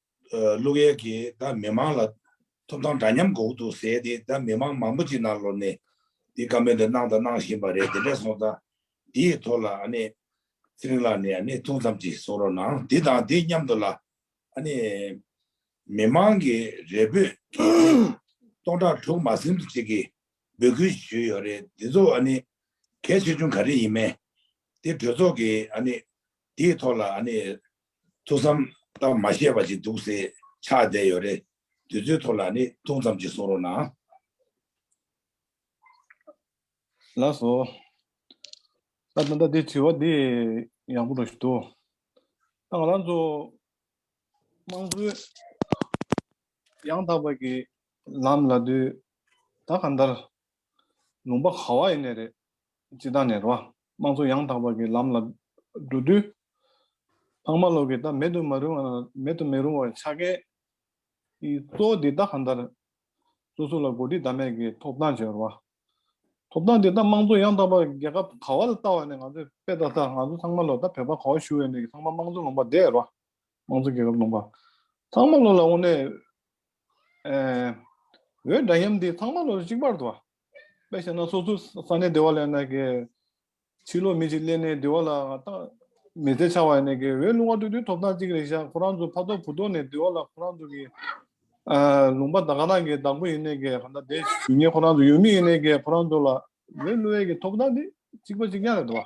[SPEAKER 3] ཀླུ་རྒྱལ་གྱིས་ད་མི་མང་ལ་ཐོབ་ཐང་འདྲ་མཉམ་གོ་འདུག་ཟེར་ཏེ་ད་མི་མང་མང་པོ་ཅིག་ནང་ལོག་ནས་འདི་བཀའ་མོལ་འདི་གནང་དང་གནང་བཞིན་པ་རེད་དེ་འདྲས་སོང་ད་འདི་ཡི་ཐོག་ལ་ཨ་ནེ་ཚེ་རིང་ལགས་ནས་ཨ་ནེ་ཐུགས་མཚམས་ཅིག་གསོ་རོགས་གནང་འདི་དང་འདི་མཉམ་དུ་ལ་ཨ་ནེ་མི་མང་གི་རེ་འབོད་དེ་སྟོང་ཕྲག་དྲུག་མ་ཟིན་དུ་ཅིག་གིས་འབོད་སྐུལ་ཞུས་ཡོད་རེད་འདི་ཚོ་ཨ་ནེ་གལ་ཆེ་ཆུང་ག་རེ་ཡིན་མེད་དེ་གྲོས་ཚོགས་ཀྱིས་ཨ་ནེ་འདི་ཡི་ཐོག་ལ་ཨ་ནེ་ཐུགས་བསམ་དང་མ་བཞེས་པ་ཅིག་འདུག་ཟེར་ཆགས་བསྡད་ཡོད་རེད། དུས་ཚོད་ཐོག་ལ་ནི་ཐུང་ཙམ་ཅིག་གསུང་རོགས་གནང།
[SPEAKER 1] ལགས་སོ། ད་ད་ད་དེ་དྲི་བ་དེ་ཡག་པོ་འགྲོ་བཞིན་འདུག་ད་ང་རང་ཚོ་དམངས་གཙོའི་ཡང་དག་པ་གི་ལམ་ལ་དུས་ད་གང་ལྟར་ལུང་པ་ག་བ་ཡི་གནས་རེད། སྤྱི་བཏང་ནས་རོ། དམངས་གཙོ་ཡང་དག་པ་གི་ལམ་ལ་འགྲོ་དུས། ལྷག་མ་ལོག་གི་ད་མེད་དུ་མ་རུང་བ་མེད་དུ་མི་རུང་བའི་ཆ་གས། གཙོ་བོ་འདི་ད་ག་འདར། སོ་སོ་ལ་གོ་སྒྲིག་ད་མེད་གི་ཐོབ་ཐང་བྱོས་རོ། ཐོབ་ཐང་འདི་ད་དམངས་གཙོ་ཡང་དག་པ་རྒྱལ་ཁབ་ག་བ་ལ་བལྟ་བ་ནས་ང་ཚོས་དཔེ་ལྟ་ད་ང་ཚོ་ཚང་མ་ལོག་ད་བོད་པ་ག་བ་ཞུ་བའི་གནས་ཀི་ཚང་མ་དམངས་གཙོ་ལུང་པ་འདས་རོ། དམངས་གཙོ་རྒྱལ་ཁབ་ལུང་པ། ཚང་མ་ལོ་ལ་དབུ་ནས། འོད་འདྲ་མཉམ་འདི་ཚང་མ་ལོ་ལ་གཅིག་པར་དུ། དཔེ་བཤད་ན་སོ་སོའི་ས་གནས་སྡེ་བ་ལས་ནས་ཀྱི། ཕྱི་ལོགས་མི་ཞིག་སླེབས་ནས་སྡེ་བ་ལ་ལྟ། མི་ཚེ་ཆགས་བ་ནས་ཀྱི་འོད་ལུང་བ་དུ་དུས་ཐོབ་ཐང་གཅིག་རེ་བཞག་ཁོ་རང་ཚོ་ཕ་ཐོག་བུ་ཐོག་ནས་སྡེ་བ་ལ་ཁོ་རང་ཚོ་གི། ལུང་པ་དག་ག་རང་གི་བདག་པོ་ཡིན་ནས་ཀྱི་ག་འདྲ་དེ། ཡུལ་མི་ཁོ་རང་ཚོ་ཡུལ་མི་ཡིན་ནས་ཀྱི་ཁོ་རང་ཚོ་ལ་འོད་ལུང་བའི་ཀྱི་ཐོབ་ཐང་འདི་གཅིག་པ་གཅིག་མཉམ་རེད་དུ་བ།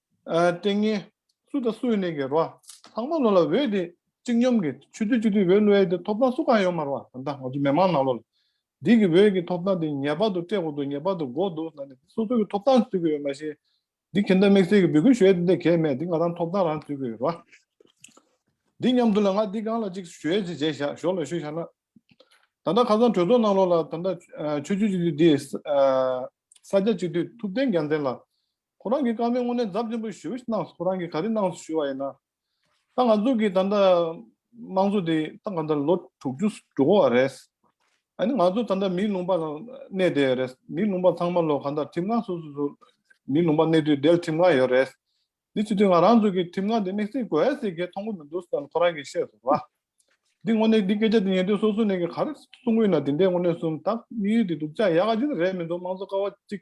[SPEAKER 1] ཏིང་ངེ། སུ་དང་སུ་ཡི་གནས་ཀྱི་རོ། ལྷག་མ་ལོ་ལ་འོད་དེ་གཅིག་སྙོམས་ཀྱི། ཆུ་ཚོད་གཅིག་དུས་འོད་ལོའི་དེ་ཐོབ་ཐང་སུ་གང་ཡོད་མ་རུང་བ་དང་ད་ང་ཚོ་མི་མང་ནང་ལོ་ལ། དེ་གི་འོད་ཀྱི་ཐོབ་ཐང་དེ་ངེས་པར་དུ་སྤྲད་དགོས་འདུག་ངེས་པར་དུ་དགོས་འདུག་ཟེར་ན་ནི་སོ་སོ་གི་ཐོབ་ཐང་རྩོད་ཀྱི་ཡོད་མ་གཞི། འདི་གྱེས་འདི་དམིགས་བསལ་གྱི་འབོད་སྐུལ་ཞུ་ཡས་དེ་འདྲ་གྱེས་མེད་དེ་ང་རང་ཐོབ་ཐང་རང་རྩོད་ཀྱི་ཡོད་རོ། འདི་མཉམ་དུ་ལ་ང་འདི་གང་ལ་གཅིག་ཞུ་ཡས་ཅིག་བྱས་བཞག་ཞོར་ལ་ཞུ་བཞག་ན། ད་ལྟ་ཁ་སང་གྲོས་ཚོགས་ནང་ལོ་ལ་ད་ལྟ་ཆུ་ཚོད་གཅིག་དུས་འདི། ས་སྐྱ་གཅིག་དུས་ཐུབ་བསྟན་རྒྱལ་མཚན་ལ། ཁོ་རང་གིས་སྐར་མའི་སྔོན་གནས་འཛབ་ཆེན་པོ་ཞུ་བའི་སྣང་ཁོ་རང་གིས་ག་རེ་གནང་ཞུ་བ་ཡིན་ན། ད་ང་ཚོ་གིས་ད་ལྟ་དམངས་གཙོ་དེ་ད་ག་ད་ལོ་དྲུག་ཅུ་དྲུག་བ་རེད། ཨ་ནི་ང་ཚོ་ད་ལྟ་མིའི་ལུང་པ་ལ་གནས་བསྡད་ཡོད་རེད། མིའི་ལུང་པ་ཚང་མ་ལོ་ག་ད་ཁྲིམས་ཁང་སོ་སོ་སུ་མིའི་ལུང་པ་གནས་དུས་བསྡད་ཁྲིམས་ཁང་ཡོད་རེད། འདི་སྤྱི་དོན་ང་རང་ཚོ་གིས་ཁྲིམས་ཁང་དེ་དམིགས་བསལ་དགོས་ཡ་ཟེར་གི་མཐོང་གི་མི་འདུག་ས་ཁོ་རང་གིས་བཤད་སོང་ལ། འདི་དངོས་གནས་འདི་སྐད་ཆ་འདི་ཉན་དུས་སོ་སོ་ནས་གི་ག་རེ་གསུང་གི་ཡིན་ན་དེ་འདྲའི་དངོས་གནས་སུམ་རྟགས་དམིགས་ཡུལ་དེ་སྡུག་ཅག་ཡ་ག་ཅིག་རེད་མི་འདུག་དམངས་གཙོ་ཀ་བ་གཅིག་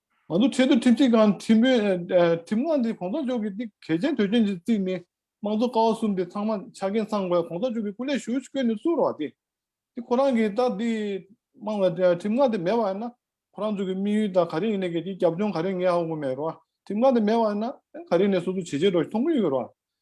[SPEAKER 1] ང་ཚོ་ཆེས་མཐོའི་ཁྲིམས་ཞིབ་ཁང་ཁྲིམས་དཔོན། ཁྲིམས་ཁང་འདིའི་གོང་ས་མཆོག་གི་གནད་གལ་ཆེན་དོན་ཆེན་གྱི་རྩིས་ནི། དམངས་གཙོ་ཀ་བ་གསུམ་དེ་ཚང་མ་ཆ་རྐྱེན་ཚང་དགོས་གོང་ས་མཆོག་གི་སྐུ་ལས་ཞུགས་བསྐོས་ནས་བསུ་རོགས་ཨ་དེ། དེ་ཁོ་རང་གིས་ད་འདི། དམངས་ལ་ཁྲིམས་ཁང་དེ་མེད་པ་ཡིན་ན། ཁོ་རང་ཚོ་གི་དམིགས་ཡུལ་ད་ག་རེ་ཡིན་ནའི་གལ་ཆེའི་རྒྱབ་ལྗོངས་ག་རེ་ངས་ཧ་གོ་མེད་རོགས་ཨ། ཁྲིམས་ཁང་དེ་མེད་པ་ཡིན་ན། ག་རེ་ནས་སོ་སོ་བྱེད་བྱེད་རོགས་ཤིག་མཐོང་གི་ཡོད་རོགས་ཨ།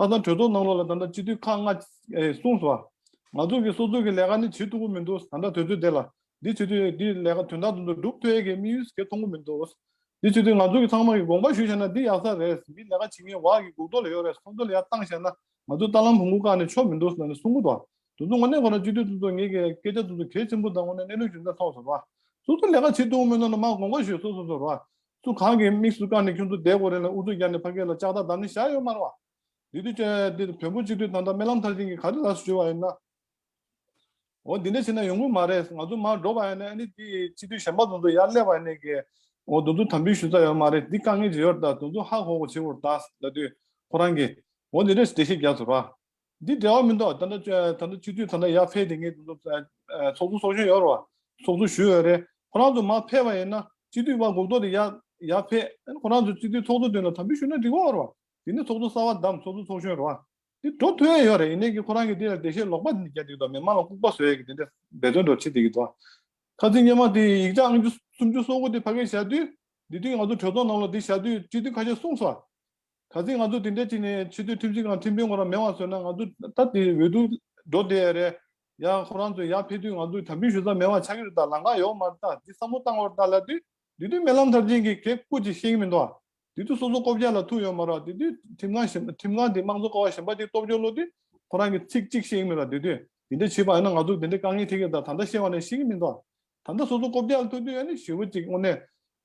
[SPEAKER 1] ལྷག་བསམ་གྲོས་ཚོགས་ནང་ལོགས་ལ་ད་ལྟ་སྤྱི་འཐུས་ཁག་ལྔ། གསུངས་སོ། ང་ཚོ་གི་སོ་ཚོད་ཀྱི་ལས་ཀ་ནི་བྱེད་ཐུབ་ཀྱི་མི་འདུག་ད་ལྟ་དུས་ཚོད་དེ་ལ། འདི་བྱེད་དུས་འདི་ལས་ཀ་དོན་དག་ཏུ་འདུག་སྒྲུབ་ཐོས་ཀྱི་དམིགས་ཡུལ་གལ་མཐོང་གི་མི་འདུག་འདི་བྱེད་དུས་ང་ཚོ་གི་ཚང་མ་གི་དགོངས་པ་ཞུ་བཞག་ན་འདི་ཡག་ས་རེད་མི་ལས་ཀ་བྱེད་མཁན་བག་གི་སྒུག་ཐོག་ལ་ཡོད་རེད་སོ་ཚོད་ལ་ཡར་བཏང་བཞག་ན་ང་ཚོ་རྟ་ལམ་བུ་མགོ་བཀག་ནས་ཆོག་མི་འདུག་ཟེར་ནས་གསུང་གི་འདུག་དུས་ཚོད་ངོ་གནས་ཁོ་ན་སྤྱི་འཐུས་སོ་ཚོད་ངེད་ཀྱི་སྐད་ཆ་སོ་ཚོད་གལ་ཆེན་པོ་དང་ངོ་གནས་གནས་ལུགས་ཞུ་ན་ཐོག་སོ་ར། སོ་ཚོད་ལས་ཀ་བྱེད་ཐུབ་ཀྱི་མི་འདུག་ན་མ་དགོངས་པ་ཞུས་སོ་སོ་སོ་ར། སུ་གང་གི་དམིགས་སུ་བཀར་ནས་ཁྱོད་ཚོ་བསྡད་དགོས་རན་ལ་ཨུ་ཚུགས་རྒྱག་ནས་ཕ་སྐད་ལ་ལྕགས་རྟ་བསྡམས་ནས་བཞག་ཡོད་སྨྲ་བ། འདི་དུས་ཆད་འདི་བོན་པོ་སྤྱི་འཐུས་ད་ལྟ་རྨི་ལམ་མཐར་ཕྱིན་གྱི་ག་རེ་ལ་ཞུ་བ་ཡིན་ནའོ། འདི་འདྲ་བྱས་ན་ཡོང་གི་མ་རེད་ང་ཚོ་མར་འགྲོ་བ་ཡིན་ནའི་ཨ་ནི་འདི་སྤྱི་འཐུས་གཞན་པ་ཚོ་ཚོ་ཡར་སླེབས་བ་ཡིན་ནའི་གི་འོ་དོན་ཚོ་དམ་འབུལ་ཞུ་ས་ཡོད་མ་རེད་འདི་དཀའ་ངལ་ཇི་ཡོད་ད་དོན་ཚོ་ཧ་གོ་གོ་བྱེད་དགོས་རེད་ད་ལྟ་དུས་ཁོ་རང་གི་འོ་འདི་འདྲ་བྱས་ཏེ་ཤེས་རྒྱག་ཚོ་ར། འདི་བྲེལ་བ་མི་འདུག་ད་ལྟ་ད་ལྟ་ཆུ་ཐོན་ད་ལྟ་ཡར་འཕེལ་དེ་ངས་ཚོགས་འདུ་ཚོགས་ཆུང་ཞུ་ཡོད་རེད་ཚོགས་འདུ་ཞུ་ཡོད་རེད་ཁོ་རང་ཚོ་མར་འཕེལ་བ་ཡིན་ན་སྤྱི་འཐུས་དབར་འགུག་ཐོག་དེ་ཡར་འཕེལ་ཁོ་རང་ཚོ་སྤྱི་འཐུས་ཚོགས་གཙོ་དེ་ལ་དམ་འབུལ་ཞུ་ན་འགྲིག་གོ་རེད་དེ་ནས་ཚོགས་འདུ་གསར་བ་བདམས་ཚོགས་འདུ་ཚོགས་ཞུ་རེད་འདི་འགྲོ་ཐུ་ཡ་ཡོད་རེད་ཡིན་ནའི་གི་ཁོ་རང་གི་དེ་ལ་འགྲེལ་བཤད་ལོག་པ་འདི་རྒྱག་འདུག་གདོང་མི་དམངས་ལ་ལྐུག་པ་བཟོ་ཡ་གི་དེ་འདྲ་འབད་བརྩོན་འགྲོ་བྱེད་འདུག་གདོང་ཁ་རྩིས་སྙན་མ་དེ་ཡིག་ཆ་ཨང་བཅུ་སུམ་ཅུ་སོ་དགུ་དེ་ཕ་གས་བཞག་དུས་འདི་དུས་ང་ཚོ་གྲོས་ཚོགས་ནང་ལ་དེ་བཞག་དུས་སྤྱི་འཐུས་ཁ་ཤས་གསུངས་སོ་ག་ཚོད་ང་ཚོ་དེ་འདྲའི་ཁྲིད་ནས་ཆེ་བསྟོད་ཁྲིམས་ཆེ་ཁང་ཁྲིམས་དཔོན་ཁོ་རང་མེད་བར་བཟོས་ན་ང་ཚོ་ད་དེ་འོས་བསྡུ་འགྲོ་བསྡད་ཡ་རེད། ཡང་ཁོ་རང་ཚོ་ཡར་ཕེབས་དུས་ང་ཚོ་དམ་འབུལ་ཞུ་ས་མེད་བར་ཆགས་ཀྱི་རེད་ད་ལང་ཀ་ཡོག་མར་ལྟ་འདི་བསམ་བློ་བཏང་བར་ལྟ་ལ་དུས་དུས་དུས་མེད་ལམ་མཐར་ཕྱིན་གྱི་གེགས་བཀོད་ཅིག་ཤེས་ཀྱི་མི་འདུག་ཨ། དུས་དུས་སོ་སོ་ལྐོག་གྱ་ལ་ཐུག་ཡོད་མ་རག་དུས་དུས་ཁྲིམས་ཁང་ཞིམ་ཁྲིམས་ཁང་དེ་དམངས་གཙོ་ཀ་བ་ཞིམ་པ་ཅིག་སྟོབས་འབྱོར་བློ་དུས་ཁོ་རང་གི་ཚིག་གཅིག་ཤེས་ཀྱི་མི་རག་དུས་དུས་དེ་འདྲ་བྱེད་པ་ཡིན་ན་ང་ཚོ་དེ་འདྲའི་དཀའ་ངལ་ཐེག་ཀྱི་རེད་ད་ད་ལྟ་ཤེས་བ་ནས་ཤེས་ཀྱི་མི་འདུག་ཨ། ད་ལྟ་སོ་སོ་ལྐོག་གྱ་ལ་ཐུག་དུས་ཡ་ནི་ཞི་བོ་ཅིག་དངོས་གནས་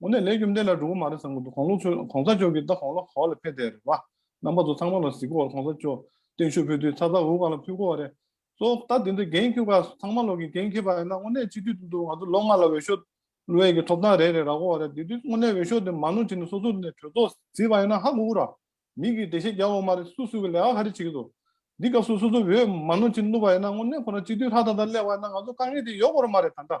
[SPEAKER 1] དངོས་གནས་ལས་རྒྱུ་འབྲས་ལ་འགྲོ་གི་མ་རེད་བསམ་གི་འདུག་གོང་ལོག་ཚོས་གོང་ས་མཆོག་གིས་ད་གོང་ལོག་ག་བ་ལ་ཕེབས་བསྡད་རེད་བ། རྣམ་པ་ཚོ་ཚང་མ་ལ་གཟིགས་གོ་གོང་ས་མཆོག་སྟེང་ཤོད་ཕུད་དུས་ཚ་ཚ་འུར་ག་ལ་ཕུད་གོ་བ་རེད། གཙོ་བོ་ད་དེ་འདྲ་འགན་ཁྱོད་ག་ཚང་མ་ལོག་གི་འགན་ཁྱེད་པ་ཡིན་ན་དངོས་གནས་སྤྱི་འཐུས་དེ་ཚོ་ང་ཚོ་ལོ་ལྔ་ལ་འོས་ཤོག་བློའི་གི་ཐོབ་ཐང་རེད་རེད་ར་གོ་བ་རེད་དེ་དུས་དངོས་གནས་འོས་ཤོག་དེ་མ་ནོར་བྱས་ནས་སོ་སོ་ནས་གྲོས་ཚོགས་བཟི་བ་ཡིན་ན་ཧ་གོ་གོ་ར། མིག་གིས་བདེ་ཤེད་རྒྱབ་བ་མ་རེད་སུ་སུ་གི་ལས་ཀ་ག་རེ་བྱེད་གི་འདུག་འདི་སྐབས་སུ་སོ་སོ་འོས་མ་ནོར་བྱེད་ནུས་པ་ཡིན་ན་དངོས་གནས་ཁོ་རང་སྤྱི་འཐུས་ལྷ་དང་དང་སླེབས་བ་ཡིན་ན་ང་ཚོ་དཀའ་ངལ་དེ་ཡོག་གོ་ར་མ་རེད་ད་འདྲ་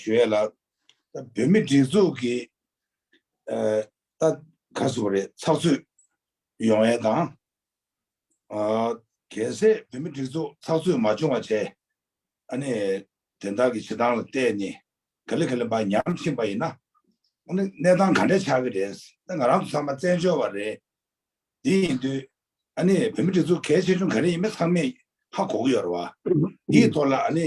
[SPEAKER 3] ཞུ་ཡས་ལགས། བོད་མི་སྒྲིག་འཛུགས་ཀྱི་ད་ག་ཟུ་བ་རེད་ཚགས་ཚུད་ཡོང་ཡས་དང། གལ་སྲིད་བོད་མི་སྒྲིག་འཛུགས་ཚགས་ཚུད་མ་བྱུང་བ་བྱས་ཨ་ནི་དེ་དག་གི་བྱེད་སྟངས་ལ་བལྟས་ནས་ག་ལེ་ག་ལེ་བ་ཉམས་ཕྱིན་པ་ཡིན་ན། གནས་སྟངས་ག་འདྲས་ཆགས་ཀྱི་རེད་ད་ང་རང་ཚང་མ་བཙན་བྱོལ་བ་རེད། དེ་ཡིན་དུས་ཨ་ནི་བོད་མི་སྒྲིག་འཛུགས་གལ་ཆེ་ཆུང་ག་རེ་ཡིན་མིན་ཚང་མས་ཧ་གོ་གི་ཡོད་རེད་བ། དེའི་ཐོག་ལ་ཨ་ནི་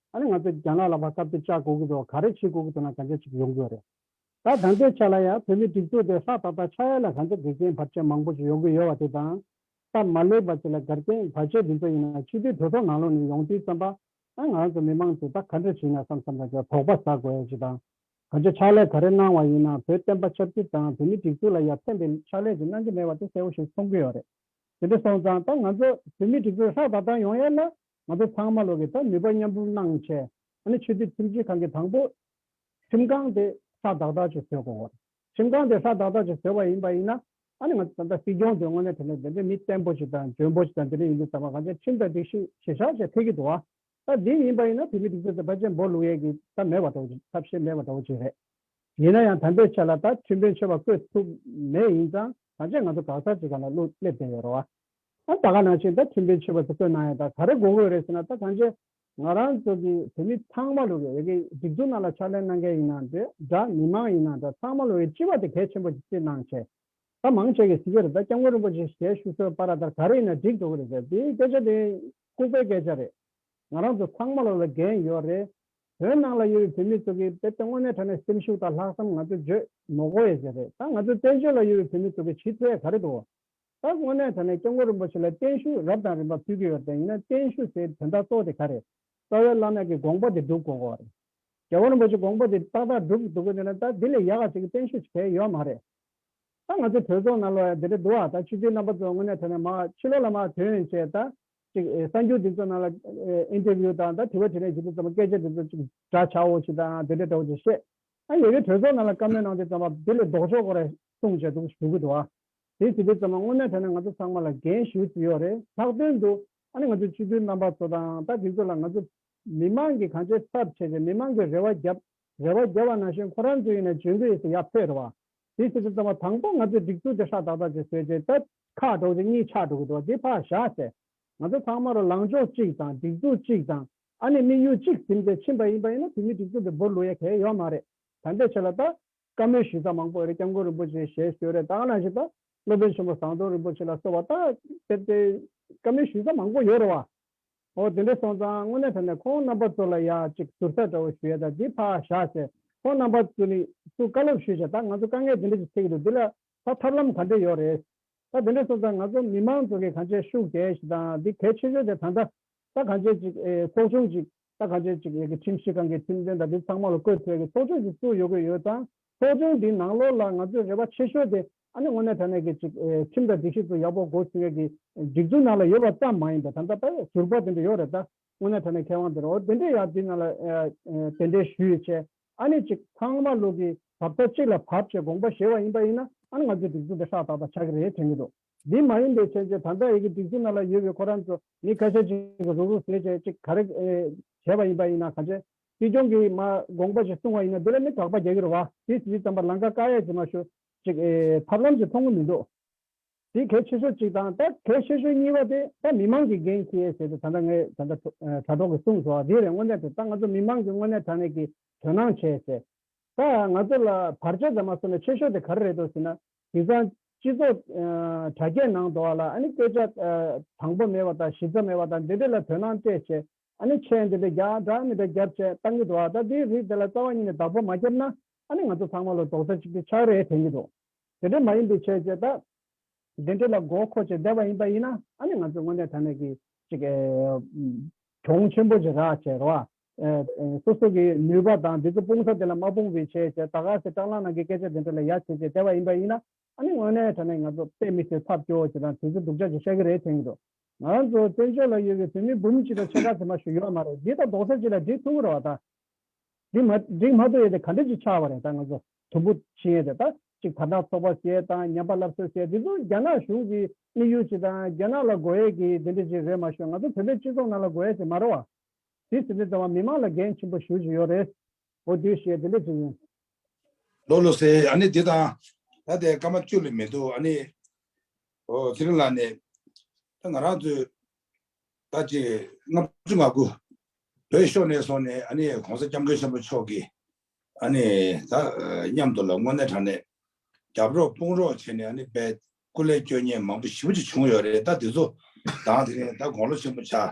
[SPEAKER 2] ད་ནི་ང་ཚོས་རྒྱ་ནག་ལ་བར་སྐབས་དེ་བཅག་དགོས་ཀྱི་འདུག་ག་རེ་བྱེད་དགོས་ཀྱི་འདུག་ན་ག་འདྲ་ཞིག་ཡོང་གི་ཡོད་རེད་ད། ད་ལྟའི་ཆ་ལ་ཡང་བོད་མིའི་སྒྲིག་འཛུགས་དེ་ལྷག་ད་ལྟ་ཆགས་ཡ་ལ་ག་འདྲ་དགེ་རྒན་བར་ཆད་མང་པོ་ཞིག་ཡོང་གི་ཡོད་བ་དེ་དང། སྟབས་མ་ལེགས་པ་ཞིག་ལ་དགར་རྐྱེན་བར་ཆད་འདི་ཚོ་ཡིན་ན་ཕྱི་དུས་བོད་ཐོག་ནང་ལོགས་ནས་ཡོང་དུས་བརྩམས་པ་ཨ་ང་ཚོ་མི་མང་ཚོས་ད་ག་འདྲ་བྱེད་ན་བསམ་བསམ་རང་ཅག་དོགས་པ་ཟ་དགོས་ཡ་ཞིག་དང། ག་འདྲ་ཕྱག་ལས་ག་རེ་གནང་བ་ཡིན་ན་བོད་བསྟན་པ་ཆབ་སྲིད་དང་བོད་མིའི་སྒྲིག་འཛུགས་ལ་ཡ་ཕན་པའི་ཕྱག་ལས་ཅིག་གནང་གི་མེད་བ་དེ་གསལ་བོ་ཞིག་མཐོང་གི་ཡོད་རེད་དེ་འདྲ་སོང་ཙང་ད་ང་ཚོ་བོད་མིའི་སྒྲིག་འཛུགས་ལྷག་ད་ལྟ་ཡོང་ཡ་ལ་ང་ཚོ་ཚང་མ་ལོ་གི་ད་ནུས་པ་མཉམ་སྤུངས་གནང་ཆེད་ཨ་ནི་ཆོས་རྗེ་ཁྲིམས་ཆེན་ཁང་གི་དང་པོ་ཁྲིམས་ཁང་དེ་ས་བདག་བདག་གཅིག་བཟོས་གོ། ཁྲིམས་ཁང་དེ་ས་བདག་བདག་གཅིག་བཟོས་བ་ཡིན་པ་ཡིན་ན་ཨ་ནི་ང་ཚོ་ད་ལྟ་སྲིད་སྐྱོང་དེ་དངོས་གནས་དེ་འདྲ་དེ་འདྲའི་མི་བརྟན་པོ་ཞིག་དང་འཇོན་པོ་ཞིག་དང་དེ་འདྲ་ཡིན་རྒྱུ་ཟ་མ་ག་ཚད་ཁྲིམས་དང་སྒྲིག་གཞི་ཞེ་ཞག་ཞེ་ཐེ་གི་འདུག་ཨ། ད་དེ་ཡིན་པ་ཡིན་ན་བོད་མི་སྒྲིག་འཛུགས་དེ་བ་ཅན་འབོ་ལུག་ཡས་གི་ད་མེད་བ་འདྲ་བོ་ཅིག་ཐབས་ཤེས་མེད་བ་འདྲ་བོ་ཅིག་རེད། ཡིན་ན་ཡང་དམ་པའི་ཆེད་ལ་ད་ཁྲིམས་དཔོན་ཆེ་བ་བསྐོས་ཐུབ་མེད་ཡིན་ཙང་གང་ཅེས་ང་ཚོ་འགག་ཚར་ཅིག་ག་ལ་བསླུ་སླེབས་བསྡད་ཡོད་རོ་ཨ། ཨ་ད་ག་ནང་ཆེན་ད་ཁྲིམས་དཔེ་མཆོད་པ་ད་བཀོད་གནང་ཡ་ད་ག་རེ་དགོ་དགོས་རེད་ཟེར་ན་ད་གང་ཆེ་ང་རང་ཚོ་གི་བོད་མི་ཚང་མ་ལོ་གི་རེ་གི་སྒྲིག་འཛུགས་ནང་ལ་ཕྱག་ལེན་གནང་མཁན་ཡིན་ན་འདྲ་འདྲ་མི་མང་ཡིན་ན་འདྲ་ཚང་མ་ལོ་གི་སྤྱི་བ་ད་གལ་ཆེན་པོ་ཆེ་སྤྱིར་ནང་ཆེ་ད་མང་ཆེ་གི་གཟིགས་ཀྱི་རེད་ད་སྐྱབས་མགོན་རིན་པོ་ཆེ་ཞལ་བཞུགས་སོལ་བ་ར་ད་ག་རེ་ཡིན་ན་འགྲིག་འགྲོ་གི་རེད་ཟེར་དེ་སྐད་ཆ་དེ་ལྐུག་པའི་སྐད་ཆ་རེད་ང་རང་ཚོ་ཚང་མ་ལོ་ལ་འགན་ཡོད་རེད་བོད་ནང་ལ་ཡོད་པའི་བོད་མི་ཚོ་གི་དཔེ་དེ་དངོས་གནས་དྲ་གནས་སེམས་ཤུགས་ད་ལྷག་བསམ་ང་ཚོ་བརྗོད་མོ་གོ་ཡ་ཟེར་རེད་ད་ང་ཚོ་བཙན་བྱོལ་ལ་ཡོད་པའི་བོད་མི་ཚོ་གི་ཇི་ཚོད་ཡ་ག་རེ་དོ་ད་དངོས་གནས་ད་ནས་སྐྱབས་མགོན་རིན་པོ་ཆེ་ལ་བརྟན་བཞུགས་རབ་དང་རིམ་པ་ཕུལ་གྱི་ཡོད་དེ་ཡིན་ན་བརྟན་བཞུགས་ཟེར་དོན་དག་གཙོ་བོ་དེ་ག་རེད། རྩ་བའི་བླ་མས་ཀྱི་དགོངས་པ་དེ་སྒྲུབ་དགོས་གོ་རེད། རྒྱལ་བ་རིན་པོ་ཆེ་དགོངས་པ་དེ་ཏག་ཏག་སྒྲུབ་གི་འདུག་གོ་དེ་ན་ད་དེ་ལས་ཡག་ག་ཅིག་བརྟན་བཞུགས་བྱེད་གལ་ཡོད་མ་རེད། ད་ང་ཚོའི་གྲོས་ཚོགས་ནང་ལོ་ཡ་དེ་འདྲ་འདུག་ཨ་ད་ཆུ་ཚོད་རྣམ་པ་ཚོ་དངོས་གནས་ད་ནས་མ་ཕྱི་ལོག་ལ་མ་དོན་བྱས་ད་ཅིག་གསར་འགྱུར་དེ་ཚོ་ནང་ལ Interview དང་ད་དྲི་བ་དྲི་རན་བྱེད་དེ་ཚོ་མ་སྐད་ཆ་དེ་ཚོ་ཅིག་འདྲ་བྱའོ་ཅིག་ད་དེ་འདྲ་འདྲ་བོ་ཅིག་བཤད། ཨ་ཡེ་གེ་གྲོས་ཚོགས་ནང་ལ་བཀའ་མོལ་གནང་དེ་ཚོ་མ་དེ་ལས་ལྡོག་ཕྱོགས་གོ་རེ་གསུངས་བྱས་འདུག་ཞུ་གི་འདུག་ཨ། དེ་དེ་བས་ཙམ་ལ་དངོས་གནས་ཐད་ནས་ང་ཚོ་ཚང་མ་ལ་འགན་ཞུ་རྩིས་ཡོད་རེད་ལྷག་དོན་དུ་ཨ་ནི་ང་ཚོའི་སྤྱི་འཐུས་རྣམ་པ་ཚོ་དང་ད་དེ་ཚོ་ལ་ང་ཚོ་མི་མང་གིས་གང་བྱས་ཐབས་བྱས་ཏེ་མི་མང་གི་རེ་བ་རྒྱབ་རེ་བ་རྒྱབ་བ་ནང་བཞིན་ཁོ་རང་ཚོ་ཡིན་ན་འཇོན་གི་ཡོད་ས་ཡག་ཕེར་བ། དེ་དེ་བས་ཙམ་ལ་དང་པོ་ང་ཚོའི་སྒྲིག་འཛུགས་དེ་ཧྲག་ཏག་ཏག་བྱེད་སོས་བྱས་ཐབས། ཁ་དཀྲོགས་རྗེས་གཉིད་ཆག་འགྲོ་གི་འདུག་དེ་ཕར་བཞག་ཚེ། ང་ཚོ་ཚང་མ་རོ་ལངས་ཕྱོགས་གཅིག་དང་སྒྲིག་འཛུགས་གཅིག་དང་ཨ་ནི་དམིགས་ཡུལ་གཅིག་ཟིམ་སྟེ་ཕྱིན་པ་ཡིན་པ་ཡིན་ན་བོད་མིའི་སྒྲིག་འཛུགས་འདི་འབོར་ལུགས་ཡ་གལ་ཡོད་མ་རེད་ད་འདི་ཆོས་ལ་ལྟ་བཀའ་མོལ་ཞུས་ས་མང་པོ་རེད་སྐྱབས་མགོན་རིན་པོ་ཆེ་ཞལ་བཞེས་རེད་ད་གནང་བཞིན་པ། སློབ་དཔོན་ཆེན་པོ་ཟངས་མདོག་རིན་པོ་ཆེ་ལ་སོགས་པ་དག་དེབ་སྟེ། བཀའ་མོལ་ཞུས་ས་མང་པོ་ཡོད་རེད་བ། ཨོ་དེ་འདྲས་སོང་ཙང་དངོས་གནས་ད་ནས་ཁོང་རྣམ་པ་ཚོ་ལ་ཡག་ཅིག་ཟུར་ཟ་འདྲ་བོ་ཞུ་ཡ་ད་འདི་ཕ་ཞག་ཟེར་ཁོང་རྣམ་པ་ཚོ་ནི་སུ་བཀའ་སློབ་ཞུས་བྱ་ད་ང་ཚོ་དཀའ་ངལ་འདི་འདྲས་ཀྱི་ཚེག་འདུག་འདི་ལ་ད་ཐབས་ལམ་ག་འདྲས་ཡོད་རེད། ད་དེ་འདྲས་སོང་ཙང་ང་ཚོ་མི་མང་ཚོ་གི་གང་བྱས་ཤུགས་དེ་ཞིག་དང་འདི་གལ་ཆེ་ཤོས་དེ་ད་ད་གང་བྱས་ཅིག་ཚོགས་ཆུང་ཅིག་ད་ག་ཆོད་ཅིག་ཡོད་ཀི་ཁྲིམས་ཞིབ་ཁང་གི་ཁྲིམས་དོན་དང་དེ་ཚང་མ་ལ་བཀོད་འཐོལ་གི་ཚོགས་ཆོས་ཀྱི་གཙོ་ཡོད་གི་ཡོད་ཙང་ཚོགས་ཆེན་འདིའི་ནང་ལོགས་ལ་ང་ཚོས་རེ་བ་ཆེ་ཤོས་དེ་ཨ་ནི་དངོས་གནས་ད་ནས་ཀི་ཅིག་ཁྲིམས་དང་སྒྲིག་གཞི་ཚོ་ཡག་པོ་སྒོ་ཕྱུག་ཡག་གི་སྒྲིག་འཛུགས་ནང་ལ་ཡོད་པ་ཙམ་མ་ཡིན་པ་ད་ལྟ་ད་ཡོད་ཟུར་པ་དེ་འདྲ་ཡོད་རེད་ད་དངོས་གནས་ད་ནས་མཁས་དབང་དེ་རེད་འོ་དེ་འདྲས་ཡག་དེའི་ནང་ལ་དེ་འདྲས་ཞུ་ཡི་ཆེ་ཨ་ནི་ཅིག་ཚང་མ་ལུགས་ཀི་བབས་ས་གཅིག་ལ་བབས་ཅེས་དགོངས་པ་བཞེས་བ་ཡིན་པ་ཡིན་ན་ཨ་ནི་ང་ཚོས་སྒྲིག་འཛུགས་དེ་ཧྲག་ཏག་ཏག་ཆག་གི་རེད་དྲན་གི་འདུག། འདི་མ་ཡིན་པའི་ཕྱིར་ཅེས་ད་ལྟ་ཡི་གེ་བསྒྲིགས་ཚུལ་རྣམས་ལ་ཡོད་པའི་ཁོ་རང་ཚོ་མི་ཁ་ཤས་ཅིག་གིས་རུག་རུག་ཟེར་བྱས་ཅིག་ག་རེ་བྱས་པ་ཡིན་པ་ཡིན་ན་ག་བྱེད། སྲིད་སྐྱོང་གིས་མ་དགོངས་པ་ཞིག་གསུང་བ་ཡིན་ན་འདི་ལ་མི་དྲག་པ་རྒྱག་གི་རེད་བ། དེ་ཇི་ཙམ་པར་ལང་ཀ་ཀ་ཡ་ཇི་མ་ཞུ། ཅིག། ཐབས་ལམ་ཞིག་མཐོང་གི་མི་འདུག། དེ་གལ་ཆེ་ཤོས་གཅིག་དང་ད་གལ་ཆེ་ཤོས་གཉིས་པ་དེ་ད་མི་མང་གི་འགན་ཁྱེད་ཟེར་ཏེ་ད་ལྟ་ངས་ད་ལྟ་དྲ་གྲོགས་གིས་གསུངས་སོང་བ་དེ་རེད་དངོས་གནས་དེ་ད་ང་ཚོ་མི་མང་གིས་དངོས་གནས་དྲ་གནས་ཀྱིས་དོན་སྣང་བྱས་ཟེར། ད་ང་ཚོ་ལ་བར་ཆད་ཙམ་མ་བཟོ་ནས་ཆེ་ཤོས་དེ་ག་རེ་རེད་དོ་ཟེར་ན་དེ་སང་སྤྱི་ཚོགས་དྲ་རྒྱའི་ནང་དུ་བ་ལ་ཨ་ནི་སྐད་ཆ་དང་པོ་མེད་བ་དང་གཞི་རྩ་མེད་བ་དང་འདི་འདྲི་ལ་དོན་སྣང་སྤྲད་བྱེད་ཨ་ནི་མཆན་འདི་འདྲི་རྒྱ་གྲགས་མི་འདྲ་རྒྱབ་བྱེད་གཏང་གི་འདུག་ཨ་ད་འདིའི་རིགས་དེ་ལ་རྩ་བ་ཉིད་ནས་བདག་པོ་མ་བརྒྱབ་ན་ཨ་ནི་ང་ཚོ་ཚང་མ་ལོ་དོགས་ས་ཅིག་ཏུ་ཆགས་རེད་དྲན་གྱི་འདུག་དེ་འདྲི་མ་ཡིན་པའི་ཆེད་བྱེད་ད་འདི་འདྲི་ལ་མགོ་མཁོ་བྱེད་བསྡད་པ་ཡིན་པ་ཡིན་ན་ཨ་ནི་ང་ཚོས་དངོས་གནས་ད་ནས་ཀྱི་ཅིག་གྱོང་ཆེན་པོ་ཅིག་རག་བྱེད་རོགས་ཨ། སོ་སོ་གི་ནུས་པ་དང་དེ་ཚོ་སྤུངས་ས་དེ་ལ་མ་སྤུངས་པའི་ཆེད་ཅེས་ད་ག་ཟེ་སྐྲག་སླང་ནང་གི་སྐད་ཆ་དེ་འདྲ་ལ་ཡ་བྱེད་བྱེད་བསྡད་པ་ཡིན་པ་ཡིན་ན་ཨ་ནི་དངོས་གནས་དྲ་གནས་ང་ཚོ་དཔེ་མི་སྲིད་ཚབ་སྐྱོ་བྱེད་དང་དེ་ཚོ་སྡུག་ཅག་ཅིག་ཤག་གི་རེད་དྲན་གི་འདུག་ང་རང་ཚོ་བཙན་བྱོལ་ལ་ཡོད་པའི་བོད་མི་འབུམ་གཅིག་དང་ཕྱེད་ཀ་ཚོ་མ་ཞུ་ཡོད་མ་རེད་འདི་ད་རྡོག་ས་གཅིག་ལ་བསྒྲིགས་ཐུབ་ཀི་རོགས་ད། བསྒྲིགས་མ་བསྒྲིགས་མ་ཐུབ་ཡོད་དེ་ག་འདྲ་ཅིག་ཆགས་པ་རེད་ད་ང་ཚོ་དུམ་བུ་ཕྱིན་ཡོད་དེ་ད་ཅིག་བར་ཐག་ཚོགས་པ་ཟེར་དང་ཉམས་པ་སླབ་གསོ་ཟེར་དེ་ཚོ་རྒྱ་ནག་གཞུང་གི་དམིགས་ཡུལ་ཅིག་དང་རྒྱ་ནག་ལ་དགོས་ཡས་ཀི་དེ་འདྲ་ཅིག་རེད་མ་ཤོད་ང་ཚོ་བོད་པའི་སྤྱི་ཚོགས་ནང་ལ་དགོས་ཡས་ཅིག་མ་རེད་བ། དེ་སྲིད་དེ་ལྟ་བ་མི་མང་ལ་འགན་ཆེན་པོ་ཞུ་བཞིན་ཡོད་རེད། འོ་དུས་ཞེས་དེ་འདྲ་ཅིག་ཡིན། ལོ་
[SPEAKER 3] ལོ་ཟེར་ཨ་ནི་དེ་དང། ད་ལྟའི་སྐར་མ་བཅུ་ལས་མེད་འདུག་ཨ་ནི། འོ་ཚེ་རིང་ལགས་ནས། ད་ང་རང་ཚོས། ད་ཅི། ལྔ་བཅུ་ང་དགུ། བོད་ཤོར་ནས་སོང་ནས་ཨ་ནི་གོང་ས་སྐྱབས་མགོན་ཆེན་པོ་མཆོག་གིས། ཨ་ནི། ད། མཉམ་དུ་ལ་དངོས་གནས་དྲང་གནས། རྒྱབ་རོགས་དཔུང་རོགས་བྱས་ནས་ཨ་ནི་པའི། སྐུ་ལས་སྐྱོན་ཉེས་མང་པོ་ཞིབ་པོ་ཅིག་བྱུང་ཡོད་རེད་ད་དེ་ཚོ། དང་དེ་རིང་ད་དགོངས་ལོ་ཆེན་པོ་བྱ།